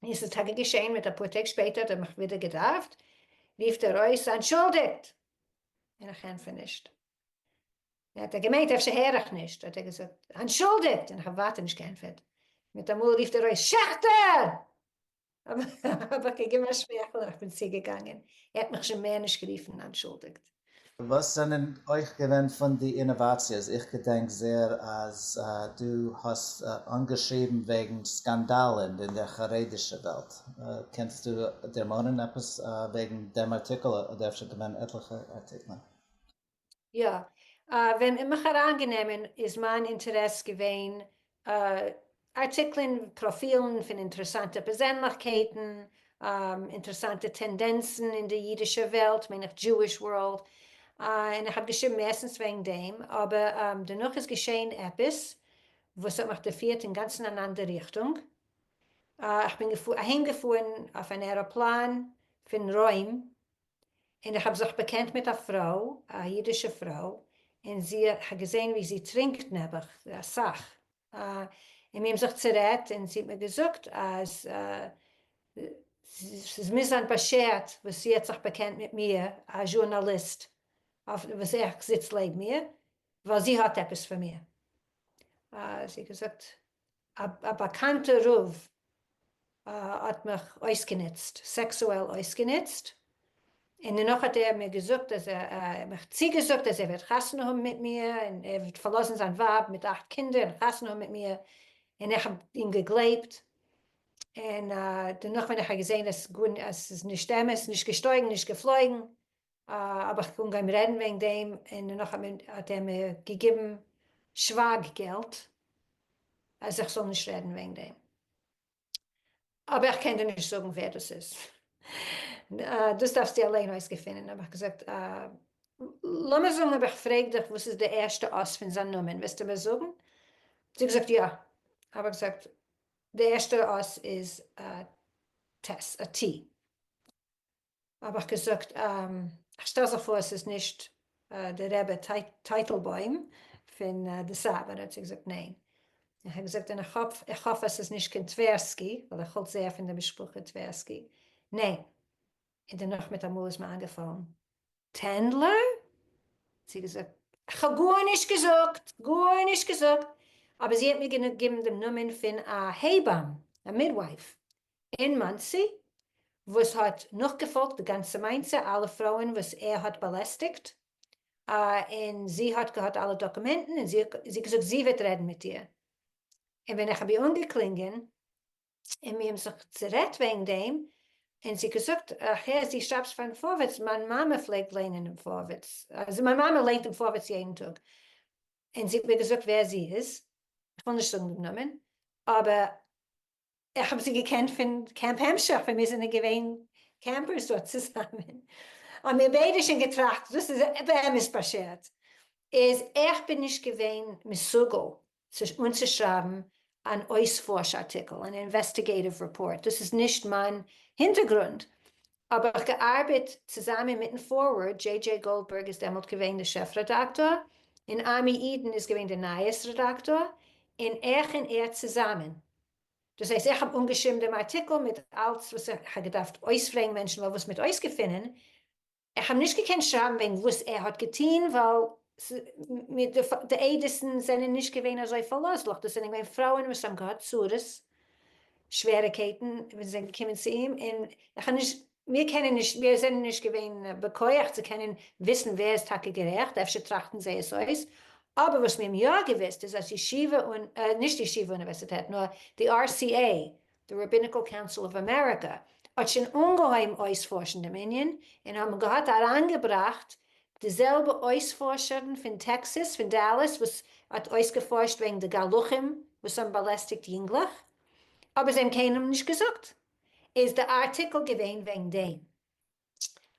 און ס'איז טאקע געשעהן מיט אפאר טעג שפעטער האט ער מיך ווידער געדארפט רופט ער אויס אנטשולדיגט און איך ענטפער נישט. האט ער געמיינט אפשר הער איך נישט, האט ער געזאגט אנטשולדיגט און איך האב ווייטער נישט געענטפערט, מיטאמאל רופט ער אויס שעכטער! האב איך געגעבן א שמייכל און איך בין צוגעגאנגען, ער האט מיך שוין מער נישט גערופן אנטשולדיגט. וואס זענען אויך געווען פון די אינאוואציעס? איך געדענק זעהר אז דו האסט אנגעשריבן וועגן סקאנדאלן אין דער חרדישע וועלט, קענסטו דערמאנען עפעס וועגן דעם ארטיקל אדער אפשר געווען עטליכע ארטיקלען? יא. ווען אין מיך אריינגענעמען איז מיין אינטערעס געווען ארטיקלען, פראפילן פון אינטערעסאנטע פערזענליכקייטן, אינטערעסאנטע טענדענצן אין די אידישע וועלט, מיין איך דזשואיש ווארלד, און איך האב געשריבן מערסטנס וועגן דעם, אבער דערנאך איז געשען עפעס וואס האט מיך דערפירט אינגאנצן אן אנדער ריכטונג, איך בין אהיימגעפארן אויף אן עראפלאן פון רוים און איך האב זיך באקענט מיט א פרוי, א אידישע פרוי, און זי האט געזען ווי זי טרינקט נעבעך אסאך, און מיר האבן זיך צערעדט און זי האט מיר געזאגט אז ס'איז מוז זיין באשערט וואס זי האט זיך באקענט מיט מיר, א זשורנאליסט וואס איך זיץ לעבן איר, ווייל זי האט עפעס פון מיר. זי האט געזאגט א באקאנטע רב האט מיך אויסגענוצט, סעקסועל אויסגענוצט, און דערנאך האט ער מיר געזאגט אז ער האט מיך צוגעזאגט אז ער וועט חתונה האבן מיט מיר און ער וועט פארלאזן זיין ווייב מיט אכט קינדער און חתונה האבן מיט מיר, און איך האב אים געגלייבט, און דערנאך ווען איך האב געזען אז ס'איז נישט אמת, נישט געשטויגן נישט געפלויגן, אבער כ'קען גיין רעדן וועגן דעם, און נאכדעם האט ער מיר געגעבן שווייג געלט אז איך זאל נישט רעדן וועגן דעם, אבער איך קען דיר נישט זאגן ווער דאס איז, דאס דארפסטו אליין אויסגעפינען, האב איך געזאגט לאמיר זאגן אויב איך פרעג דיך וואס איז די ערשטע אות פון זיין נאמען וועסטו מיר זאגן? זי האט געזאגט יא, האב איך געזאגט די ערשטע אות איז א ט, האב איך געזאגט איך שטעל זיך פאר ס'איז נישט די רבי טייטלבוים פון די סאטמאר, האט זי געזאגט ניין, איך האב געזאגט און איך האף אז ס'איז נישט קיין טווערסקי ווייל איך האלט זייער פון די משפחה טווערסקי, ניין, און דערנאך מיט א מאל איז מיר איינגעפאלן טענדלער, האט זי געזאגט איך האב גארנישט געזאגט, גארנישט געזאגט, אבער זי האט מיר געגעבן דעם נאמען פון א הייבאם, א מידווייף, אין מאנסי, וואס האט נאכגעפאלגט די גאנצע מעשה, אלע פרויען וואס ער האט באלעסטיגט, און זי האט געהאט אלע דאקומענטן, און זי האט געזאגט זי וועט רעדן מיט איר, און ווען איך האב איר אנגעקלינגען, און מיר האבן זיך צערעדט וועגן דעם, און זי האט געזאגט, איך הער זי שרייבט פארן פארווערטס, מיין מאמע פלעגט ליינען דעם פארווערטס, מיין מאמע ליינט דעם פארווערטס יעדן טאג, און זי האט מיר געזאגט ווער זי איז, איך וויל נישט זאגן דעם נאמען, אבער איך האב זיי געקענט פון קעמפ המשך ווען מיר זענען געווען קעמפערס דארט צוזאמען, האמיר ביידע שוין געטראכט דאס איז באמת באשערט, איז איך בין נישט געווען מסוגל אנצושרייבן אן אויספארש ארטיקל, אן אינוועסטיגעיטיוו רעפארט, דאס איז נישט מיין הינטערגרונד, האב איך געארבעט צוזאמען מיטן פארווערד, דזשעי דזשעי גאלדבערג איז דעמאלט געווען דער שעף רעדאקטאר, און עמי אידן איז געווען דער נייעס רעדאקטאר, און איך און ער צוזאמען. דאס הייסט איך האב אנגעשריבן דעם ארטיקל מיט אלץ וואס איך האב געדארפט אויספרעגן מענטשן ווייל וואס מיט אויסגעפינען, איך האב נישט געקענט שרייבן וועגן וואס ער האט געטון ווייל די עדות'ן זענען נישט געווען אזוי פארלאזליך, דאס זענען געווען פרויען וואס האבן געהאט צרות שוועריקייטן ווען זיי קומען צו אים, און איך האב נישט, מיר קענען נישט, מיר זענען נישט געווען בכח צו קענען וויסן ווער איז טאקע גערעכט, אפשר טראכטן זיי עס אויס, אבער וואס מיר האבן יא געוואוסט איז אז ישיבה און, נישט ישיבה אוניווערסיטעט, נאר די RCA, די Rabbinical Council of America, האט שוין אנגעהויבן אויספארשן דעם ענין, און האבן געהאט אריינגעבראכט די זעלבע אויספארשערן פון טעקסעס פון דאלאס וואס האט אויסגעפארשט וועגן די גלחים וואס האבן באלעסטיגט יונגלעך אבער זיי האבן קיינעם נישט געזאגט איז די ארטיקל געווען וועגן דעם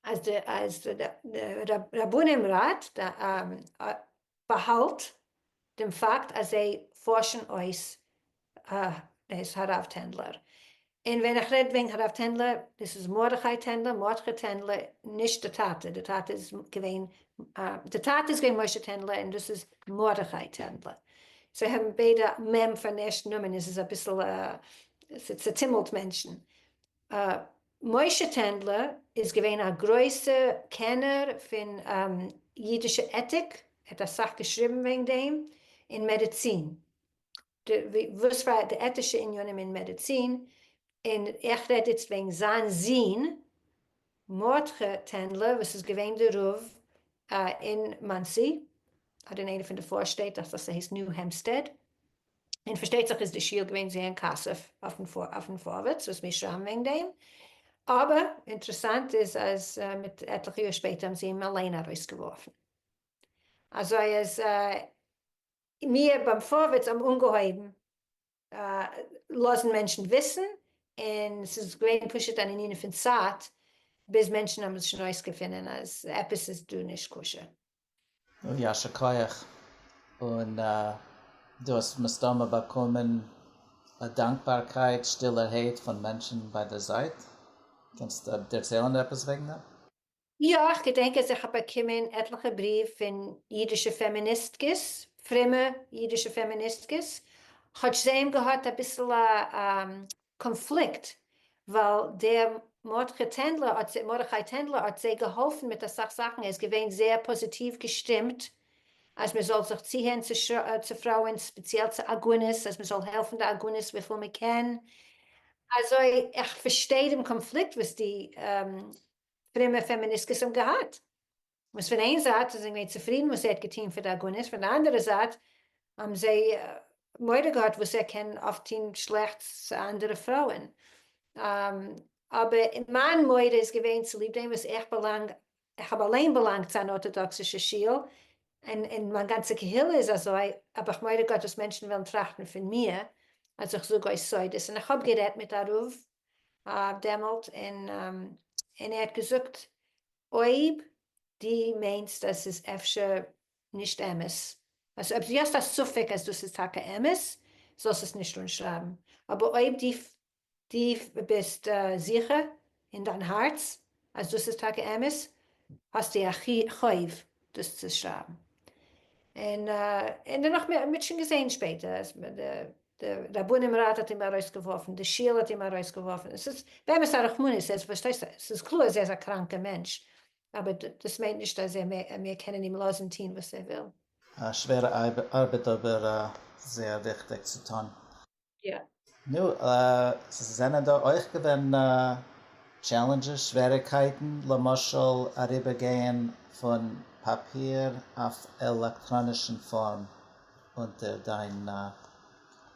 אז די רבנים ראט באהאלט דעם פאקט אז זיי פארשן אויס אויס הרב טענדלער. און ווען איך רעד וועגן הרב טענדלער, דאס איז מרדכי טענדלער, מרדכי טענדלער, נישט די טאטע, די טאטע איז געווען, די טאטע איז געווען משה טענדלער און דאס איז מרדכי טענדלער. זיי האבן ביידע מ' פארן ערשטן נאמען, עס איז אביסל, ס'צעטומלט מענטשן. משה טענדלער איז געווען א גרויסע קענער פון אידישע עטיק, ער האט אסאך געשריבן וועגן דעם, און מעדיצין, וואס פאר די עטישע עניינים אין מעדיצין, און איך רעד איצט וועגן זיין זון מרדכי טענדלער וואס איז געווען די רב אין מאנסי, אדער אין איינע פון די פארשטעט, דאכט זיך ס'הייסט ניו העמפסטעד. און פארשטייט זיך איז די שיעור געווען זעהר אין כסף אויפן פארווערטס וואס מיר שרייבן וועגן דעם, אבער אינטערעסאנט איז אז מיט עטליכע יאר שפעטער האבן זיי אים אליין ארויסגעווארפן, אזוי אז מיר ביים פארווערטס האבן אנגעהויבן לאזן מענטשן וויסן, און ס'איז געווען פשוט אן ענין פון צייט ביז מענטשן האבן עס שוין אויסגעפינען אז עפעס איז דא נישט כשר. יישר כח, און דו האסט מסתמא באקומען א דאנקבארקייט שטילערהייט פון מענטשן ביי די זייט, קענסט דערציילן עפעס וועגן דעם? יא, איך געדענק אז איך האב באקומען עטליכע בריוו פון אידישע פעמיניסטקעס, פרומע אידישע פעמיניסטקעס, כאטש זיי האבן געהאט אביסל א קאנפליקט ווייל דער מרדכי טענדלער האט זיי געהאלפן מיט אסאך זאכן ער איז געווען זייער פאזיטיוו געשטימט אז מען זאל זיך צוהערן צו פרויען ספעציעל צו עגונות אז מען זאל העלפן די עגונות וויפיל מען קען אזוי איך פארשטיי דעם קאנפליקט וואס די פרומע פעמיניסקעס האבן געהאט. וואס פון איין זייט איז ער געווען צופרידן וואס ער האט געטון פאר די עגונות, פון די אנדערע זייט האבן זיי מורא געהאט וואס ער קען אויף טון שלעכטס צו אנדערע פרויען, אבער מיין מורא איז געווען צוליב דעם וואס איך באלאנג, איך האב אליין באלאנגט צו אן ארטאדאקסישע שול, און און מיין גאנצע קהילה איז אזוי, האב איך מורא געהאט וואס מענטשן וועלן טראכטן פון מיר אז איך זאג אויס סודות, און איך האב גערעדט מיט א רב דעמאלט, און ער האט געזאגט אויב די מיינסט אז ס'איז אפשר נישט אמת, אלזא אויב די האסט א ספק אז דאס איז טאקע אמת, זאלסט עס נישט אנשרייבן, אבער אויב די די ביסט זיכער אין דיין הארץ אז דאס איז טאקע אמת, האסטו א חוב דאס צו שרייבן. און דערנאך, מ'האט שוין געזעהן שפעטער אז. די רבנים ראט האט אים ארויסגעווארפן, די שול האט אים ארויסגעווארפן, עס איז באמת א רחמנות, עס פארשטייסט עס איז קלאר עס איז א קראנקע מענטש, אבער דאס מיינט נישט אז מיר קענען אים לאזן טוהן וואס ער וויל. א שווערע ארבעט אבער זייער וויכטיג צו טון. יא. נו, ס'זענען דא אויך געווען טשעלענדזשעס, שוועריגקייטן, למשל אריבערגייען פון פאפיר אויף עלעקטראנישן פארם, אונטער דיין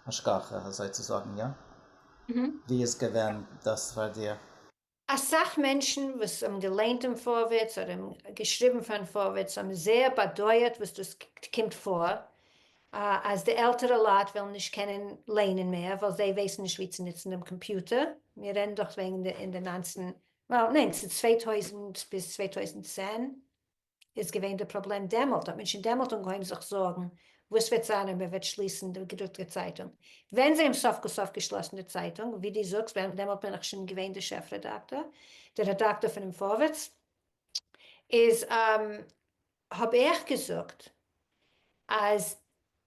השגחה אזוי צו זאגן, יא? ווי איז געווען דאס פאר דיר? אסאך מענטשן וואס האבן געליינט דעם פארווערטס אדער געשריבן פארן פארווערטס האבן זעהר באדויערט וואס דאס קומט פאר אז די עלטערע לייט וועלן נישט קענען ליינען מער ווייל זיי ווייסן נישט ווי צו נוצן דעם קאמפיוטער, מיר רעדן דאך וועגן די אין די ניינצן ניין ס'איז צוויי טויזנט ביז צוויי טויזנט צען איז געווען די פראבלעם דעמאלט האט מען שוין דעמאלט אנגעהויבן זיך זארגן וואס וועט זיין אויב מען וועט שליסן די געדרוקטע צייטונג, ווען זיי האבן סוף כל סוף געשלאסן די צייטונג, ווי דו זאגסט ווען דעמאלט בין איך שוין געווען די שעף רעדאקטאר, די רעדאקטאר פונעם פארווערטס, איז האב איך געזאגט אז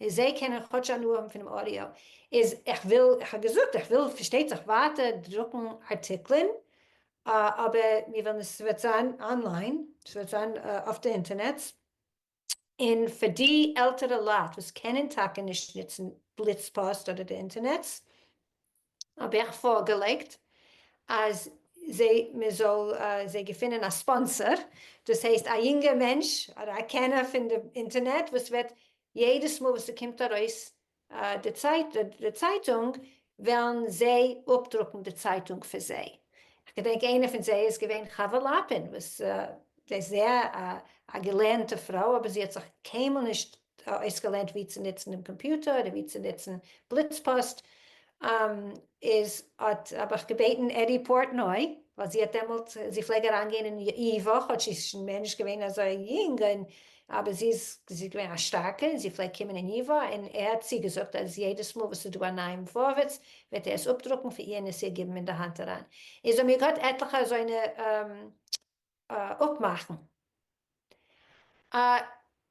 און זיי קענען כאטש הנאה האבן פונעם אודיאו, איז איך וויל, איך האב געזאגט איך וויל פארשטייט זיך ווייטער דרוקן ארטיקלען, אבער מיר ווילן עס וועט זיין אנליין, עס וועט זיין אויף די אינטערנעץ, און פאר די עלטערע לייט וואס קענען טאקע נישט נוצן בליץ פאסט אדער די אינטערנעץ, האב איך פארגעלייגט אז זיי מען זאל זיי געפינען א ספאנסער דאס הייסט א יונגער מענטש אדער א קענער פון די אינטערנעט וואס וועט יעדעס מאל וואס ס'קומט ארויס די צייטונג וועלן זיי אפדרוקן די צייטונג פאר זיי, כ'געדענק איינער פון זיי איז געווען חוה לאפין וואס זי איז זייער א געלערנטע פרוי אבער זי האט זיך קיינמאל נישט אויסגעלערנט ווי צו נוצן דעם קאמפיוטער אדער ווי צו נוצן בליץ פאסט, איז האט האב איך געבעטן עדי פארטנוי ווייל זי האט דעמאלט זי פלעג אריין גיין אין אי וואך האט זי איז שוין מער נישט געווען אזוי יונג און אבער זי איז זי איז געווען א שטארקע און זי פלעג קומען אין אי וואך און ער האט צו געזאגט אז יעדעס מאל וואס איז דא א נייעם פארווערטס וועט ער עס אפדרוקן פאר איר און עס איר גיבן אין די האנט אריין איז האבן מיר געהאט עטליכע אזוינע אפמאכן.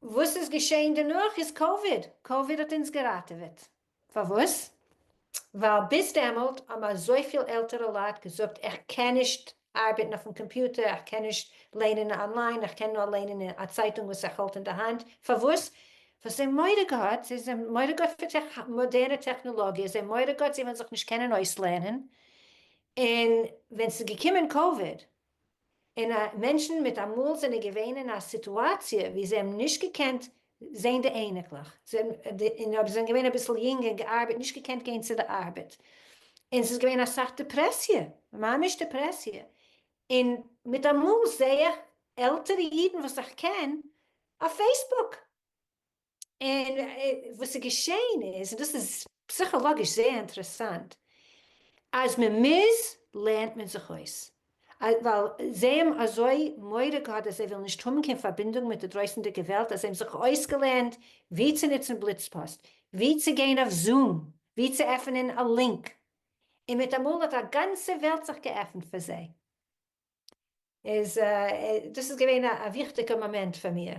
וואס איז געשעהן דערנאך איז קאוויד, קאוויד האט אונז געראטעוועט, פארוואס? ווייל ביז דעמאלט האבן אזויפיל עלטערע לייט געזאגט איך קען נישט ארבעטן אויפן קאמפיוטער, איך קען נישט לערנען אנליין, איך קען נאר לערנען אין א צייטונג וואס איך האלט אין די האנט, פארוואס? ווייל זיי האבן מורא געהאט, זיי האבן מורא געהאט פון מאדערנע טעכנעלאגיע, זיי האבן מורא געהאט זיי וועלן זיך נישט קענען אויסלערנען, און ווען ס'איז געקומען קאוויד און א מענטשן מיט אמאל זענען געווען אין א סיטואציע ווי זיי האבן נישט געקענט זעהן די אייניקלעך און אויב זיי זענען געווען אביסל יונג און געארבעט נישט געקענט גיין צו די ארבעט און ס'איז געווען אסאך דעפרעסיע ממש דעפרעסיע און מיט אמאל זעה איך עלטערע אידן וואס איך קען אויף פעיסבוק און וואס איז געשעהן איז, און דאס איז פסיכאלאגיש זייער אינטערעסאנט, אז מען מוז לערנט מען זיך אויס, ווייל זיי האבן אזוי מורא געהאט אז זיי וועלן נישט האבן קיין פארבינדונג מיט די דרויסענדיגע וועלט, אז זיי האבן זיך אויסגעלערנט ווי צו נוצן בליצפאסט, ווי צו גיין אויף זום, ווי צו עפענען א לינק, און מיט אמאל האט א גאנצע וועלט זיך געעפנט פאר זיי. איז דאס איז געווען א וויכטיגע מאמענט פאר מיר,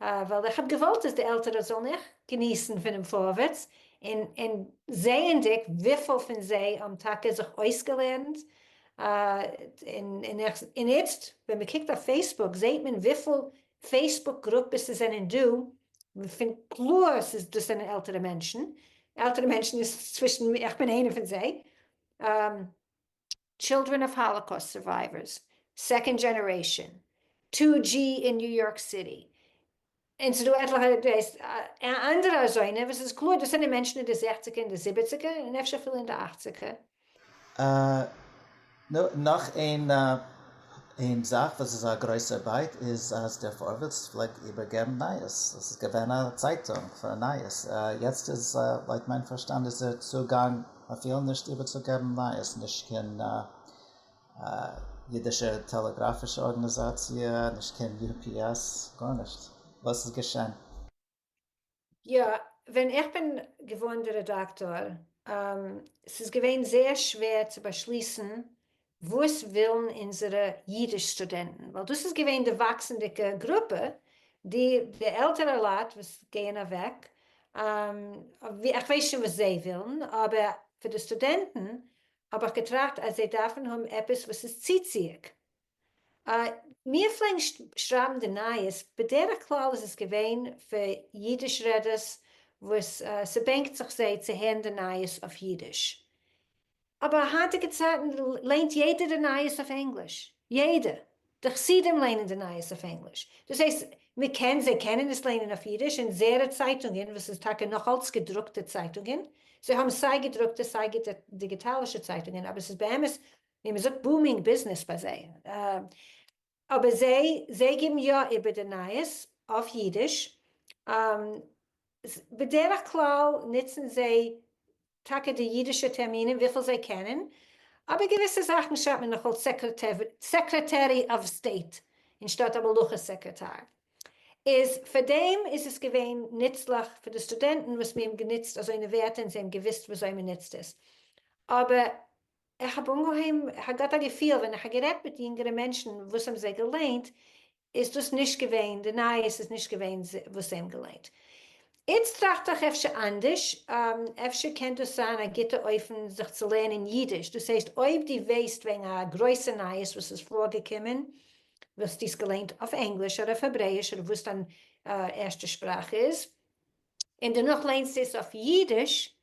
ווייל איך האב געוואלט אז די עלטערע זאלן אויך געניסן פונעם פארווערטס, און זעענדיג וויפיל פון זיי האבן טאקע זיך אויסגעלערנט, און איצט ווען מען קוקט אויף פעיסבוק זעהט מען וויפיל פעיסבוק גרופעס עס זענען דא, פון קלאר ס'איז דאס זענען עלטערע מענטשן, עלטערע מענטשן איז צווישן, איך בין איינע פון זיי, טשילדרען אוו האלאקאוסט סורווייווערס, סעקאנד דזשענערעישאן, טו דזשי אין ניו יארק סיטי, און ס'איז דא עטליכע אנדערע אזוינע וואס איז קלאר דאס זענען מענטשן אין די זעכציגער און די זיבעציגער און אפשר אפילו אין די אכציגער. נו, נאך איין זאך וואס איז א גרויסער בייט איז אז דער פארווערטס פלעגט איבערגעבן נייעס, עס איז געווען א צייטונג פאר נייעס, יעצט איז לויט מיין פארשטאנד איז דער צוגאנג מ'פיל נישט איבערצוגעבן נייעס, נישט קיין אידישע טעלעגראפישע ארגאניזאציע, נישט קיין יו פי עס, גארנישט. וואס איז געשען? יא, ווען איך בין געווארן די רעדאקטאר, ס'איז געווען זייער שווער צו באשליסן וואס ווילן אונזערע אידיש סטודענטן, ווייל דאס איז געווען די וואקסענדיגע גרופע, די די עלטערע לייט וואס גייען אוועק, איך ווייס שוין וואס זיי ווילן, אבער פאר די סטודענטן האב איך געטראכט אז זיי דארפן האבן עפעס וואס איז צוציעג. מיר פלעגן שרייבן די נייעס, בדרך כלל איז עס געווען פאר אידיש רעדערס וואס ס'בענקט זיך זיי צו הערן די נייעס אויף אידיש. אבער היינטיגע צייטן ליינט יעדער די נייעס אויף ענגליש, יעדער, די חסידים ליינען די נייעס אויף ענגליש, דאס הייסט מ'קען, זיי קענען עס ליינען אויף אידיש, אונזערע צייטונגען וואס איז טאקע נאך אלץ געדרוקטע צייטונגען, זיי האבן סיי געדרוקטע סיי דיגיטאלישע צייטונגען, אבער ס'איז באמת ווי מ'זאגט בומינג ביזנעס ביי זיי. אבער זיי זיי גיבן יא איבער די נייעס אויף אידיש, בדרך כלל נוצן זיי טאקע די אידישע טערמינען וויפיל זיי קענען, אבער געוויסע זאכן שרייבט מען נאך אלס סעקרעטערי אוו סטעיט אנשטאט א מלוכה סעקרעטאר, איז פאר דעם איז עס געווען נוצליך פאר די סטודענטן וואס מיר האבן גענוצט אזוינע ווערטער און זיי האבן געוויסט ווי אזוי מען נוצט עס, אבער איך האב אנגעהויבן איך האב געהאט א געפיל ווען איך האב גערעדט מיט יונגערע מענטשן וואס האבן זיי געליינט איז דאס נישט געווען די נייעס איז נישט געווען וואס זיי האבן געליינט. איצט טראכט איך אפשר אנדערש, אפשר קען דאס זיין א גוטע אופן זיך צו לערנען אידיש, דאס הייסט אויב דו ווייסט וועגן א גרויסע נייעס וואס איז פארגעקומען וואלסטו עס געליינט אויף ענגליש אדער אויף העברעיש אדער וואס דיין ערשטע שפראך איז, און דערנאך ליינסטו עס אויף אידיש,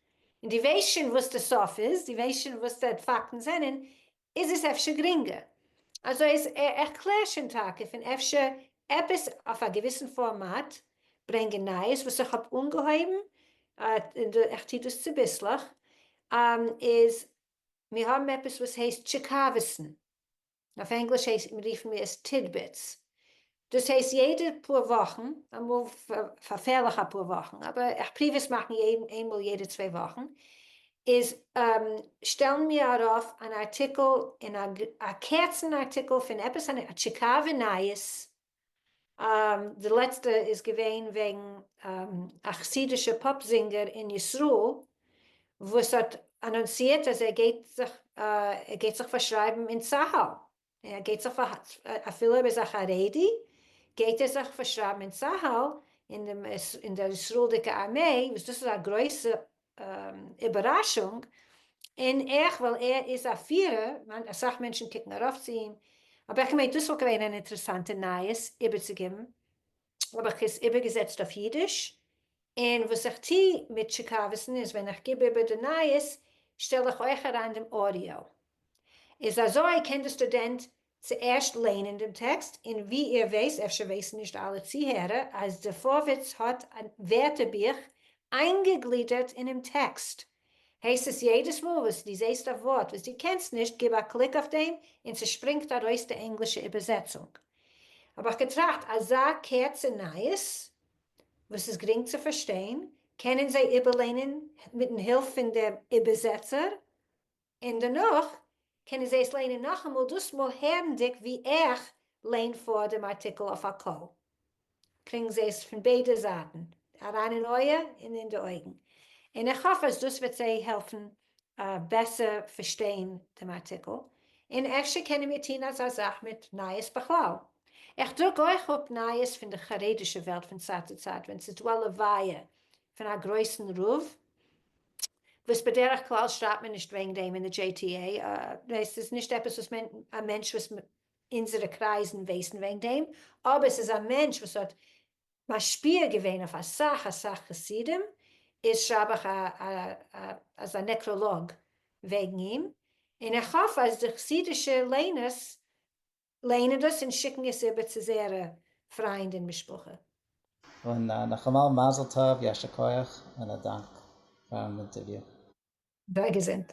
און דו ווייסט שוין וואס די סוף איז, דו ווייסט שוין וואס די פאקטן זענען, איז עס אפשר גרינגער. אזוי אז איך קלער שוין טאקע פון אפשר עפעס אויף א געוויסן פארמאט ברענגען נייעס וואס איך האב אנגעהויבן, און איך טו דאס צוביסלעך, איז מיר האבן עפעס וואס הייסט טשיקאווסן. אויף ענגליש רופן מיר עס טידביטס, דאס הייסט יעדע פאר וואכן, אמאל פארפערליך אפאר וואכן, אבער איך פרוביר עס מאכן איינמאל יעדע צוויי וואכן, איז שטעלן מיר ארויף אן ארטיקל, א קורצן ארטיקל פון עפעס א טשיקאווע נייעס די לעצטע איז געווען וועגן א חסידישע פאפ זינגער אין ישראל וואס האט אנאנסירט אז ער גייט זיך ער גייט זיך פארשרייבן אין צהל און ער גייט זיך אפילו ער איז א חרדי גייט ער זיך פארשרייבן אין צהל אין די און די ישראל'דיגע ארמעי וואס דאס איז א גרויסע איבעראשונג, און עכ פ ווייל ער איז א פירער, אסאך מענטשן קוקן ארויף צו אים, האב איך געמיינט דאס וואלט געווען אן אינטערעסאנטע נייעס איבערצוגיבן, האב איך עס איבערגעזעצט אויף אידיש, און וואס איך טו מיט טשיקאווסן איז ווען איך גיב איבער די נייעס שטעל איך אויך אריין דעם אודיאו. איז אזוי קען די סטודענט צוערשט ליינען דעם טעקסט, און ווי איר ווייסט, אפשר ווייסן נישט אלע צוהערער, אז די פארווערטס האט א ווערטערבוך איינגעגלידערט אינעם טעקסט, הייסט עס יעדעס מאל וואס דו זעסט א ווארט וואס דו קענסט נישט, גיב א קליק אויף דעם און ס'שפרינגט ארויס די ענגלישע איבערזעצונג. האב איך געטראכט, אזא קורצע נייעס וואס איז גרינג צו פארשטיין, קענען זיי איבערליינען מיט'ן הילף פון דעם איבערזעצער, און דערנאך קענען זיי עס ליינען נאכאמאל, דאס מאל הערנדיג ווי איך ליין פאר דעם ארטיקל אויף א קול, קריגן זיי עס פון ביידע זייטן אריין אין אויער און אין די אויגן, און איך האף אז דאס וועט זיי העלפן בעסער פארשטיין דעם ארטיקל, און אפשר קענען מיר טון אזא זאך מיט נייעס בכלל. איך דרוק אויך אפ נייעס פון די חרדישע וועלט פון צייט צו צייט ווען ס'איז דא א לוויה פון א גרויסן רב, וואס בדרך כלל שרייבט מען נישט וועגן דעם אין די דזשעי טי עי, עס איז נישט עפעס וואס מען, א מענטש וואס אונזערע קרייזן ווייסן וועגן דעם, אבער עס איז א מענטש וואס האט משפיע געווען אויף אסאך אסאך חסידים, איז שרייב איך אזא נעקראלאג וועגן אים, און איך האף אז די חסידישע ליינערס ליינען דאס און שיקן עס איבער צו זייערע פריינד און משפחה. און נאכאמאל מזל טוב, יישר כח און א דאנק פארן אינטערוויו. זיי געזונט.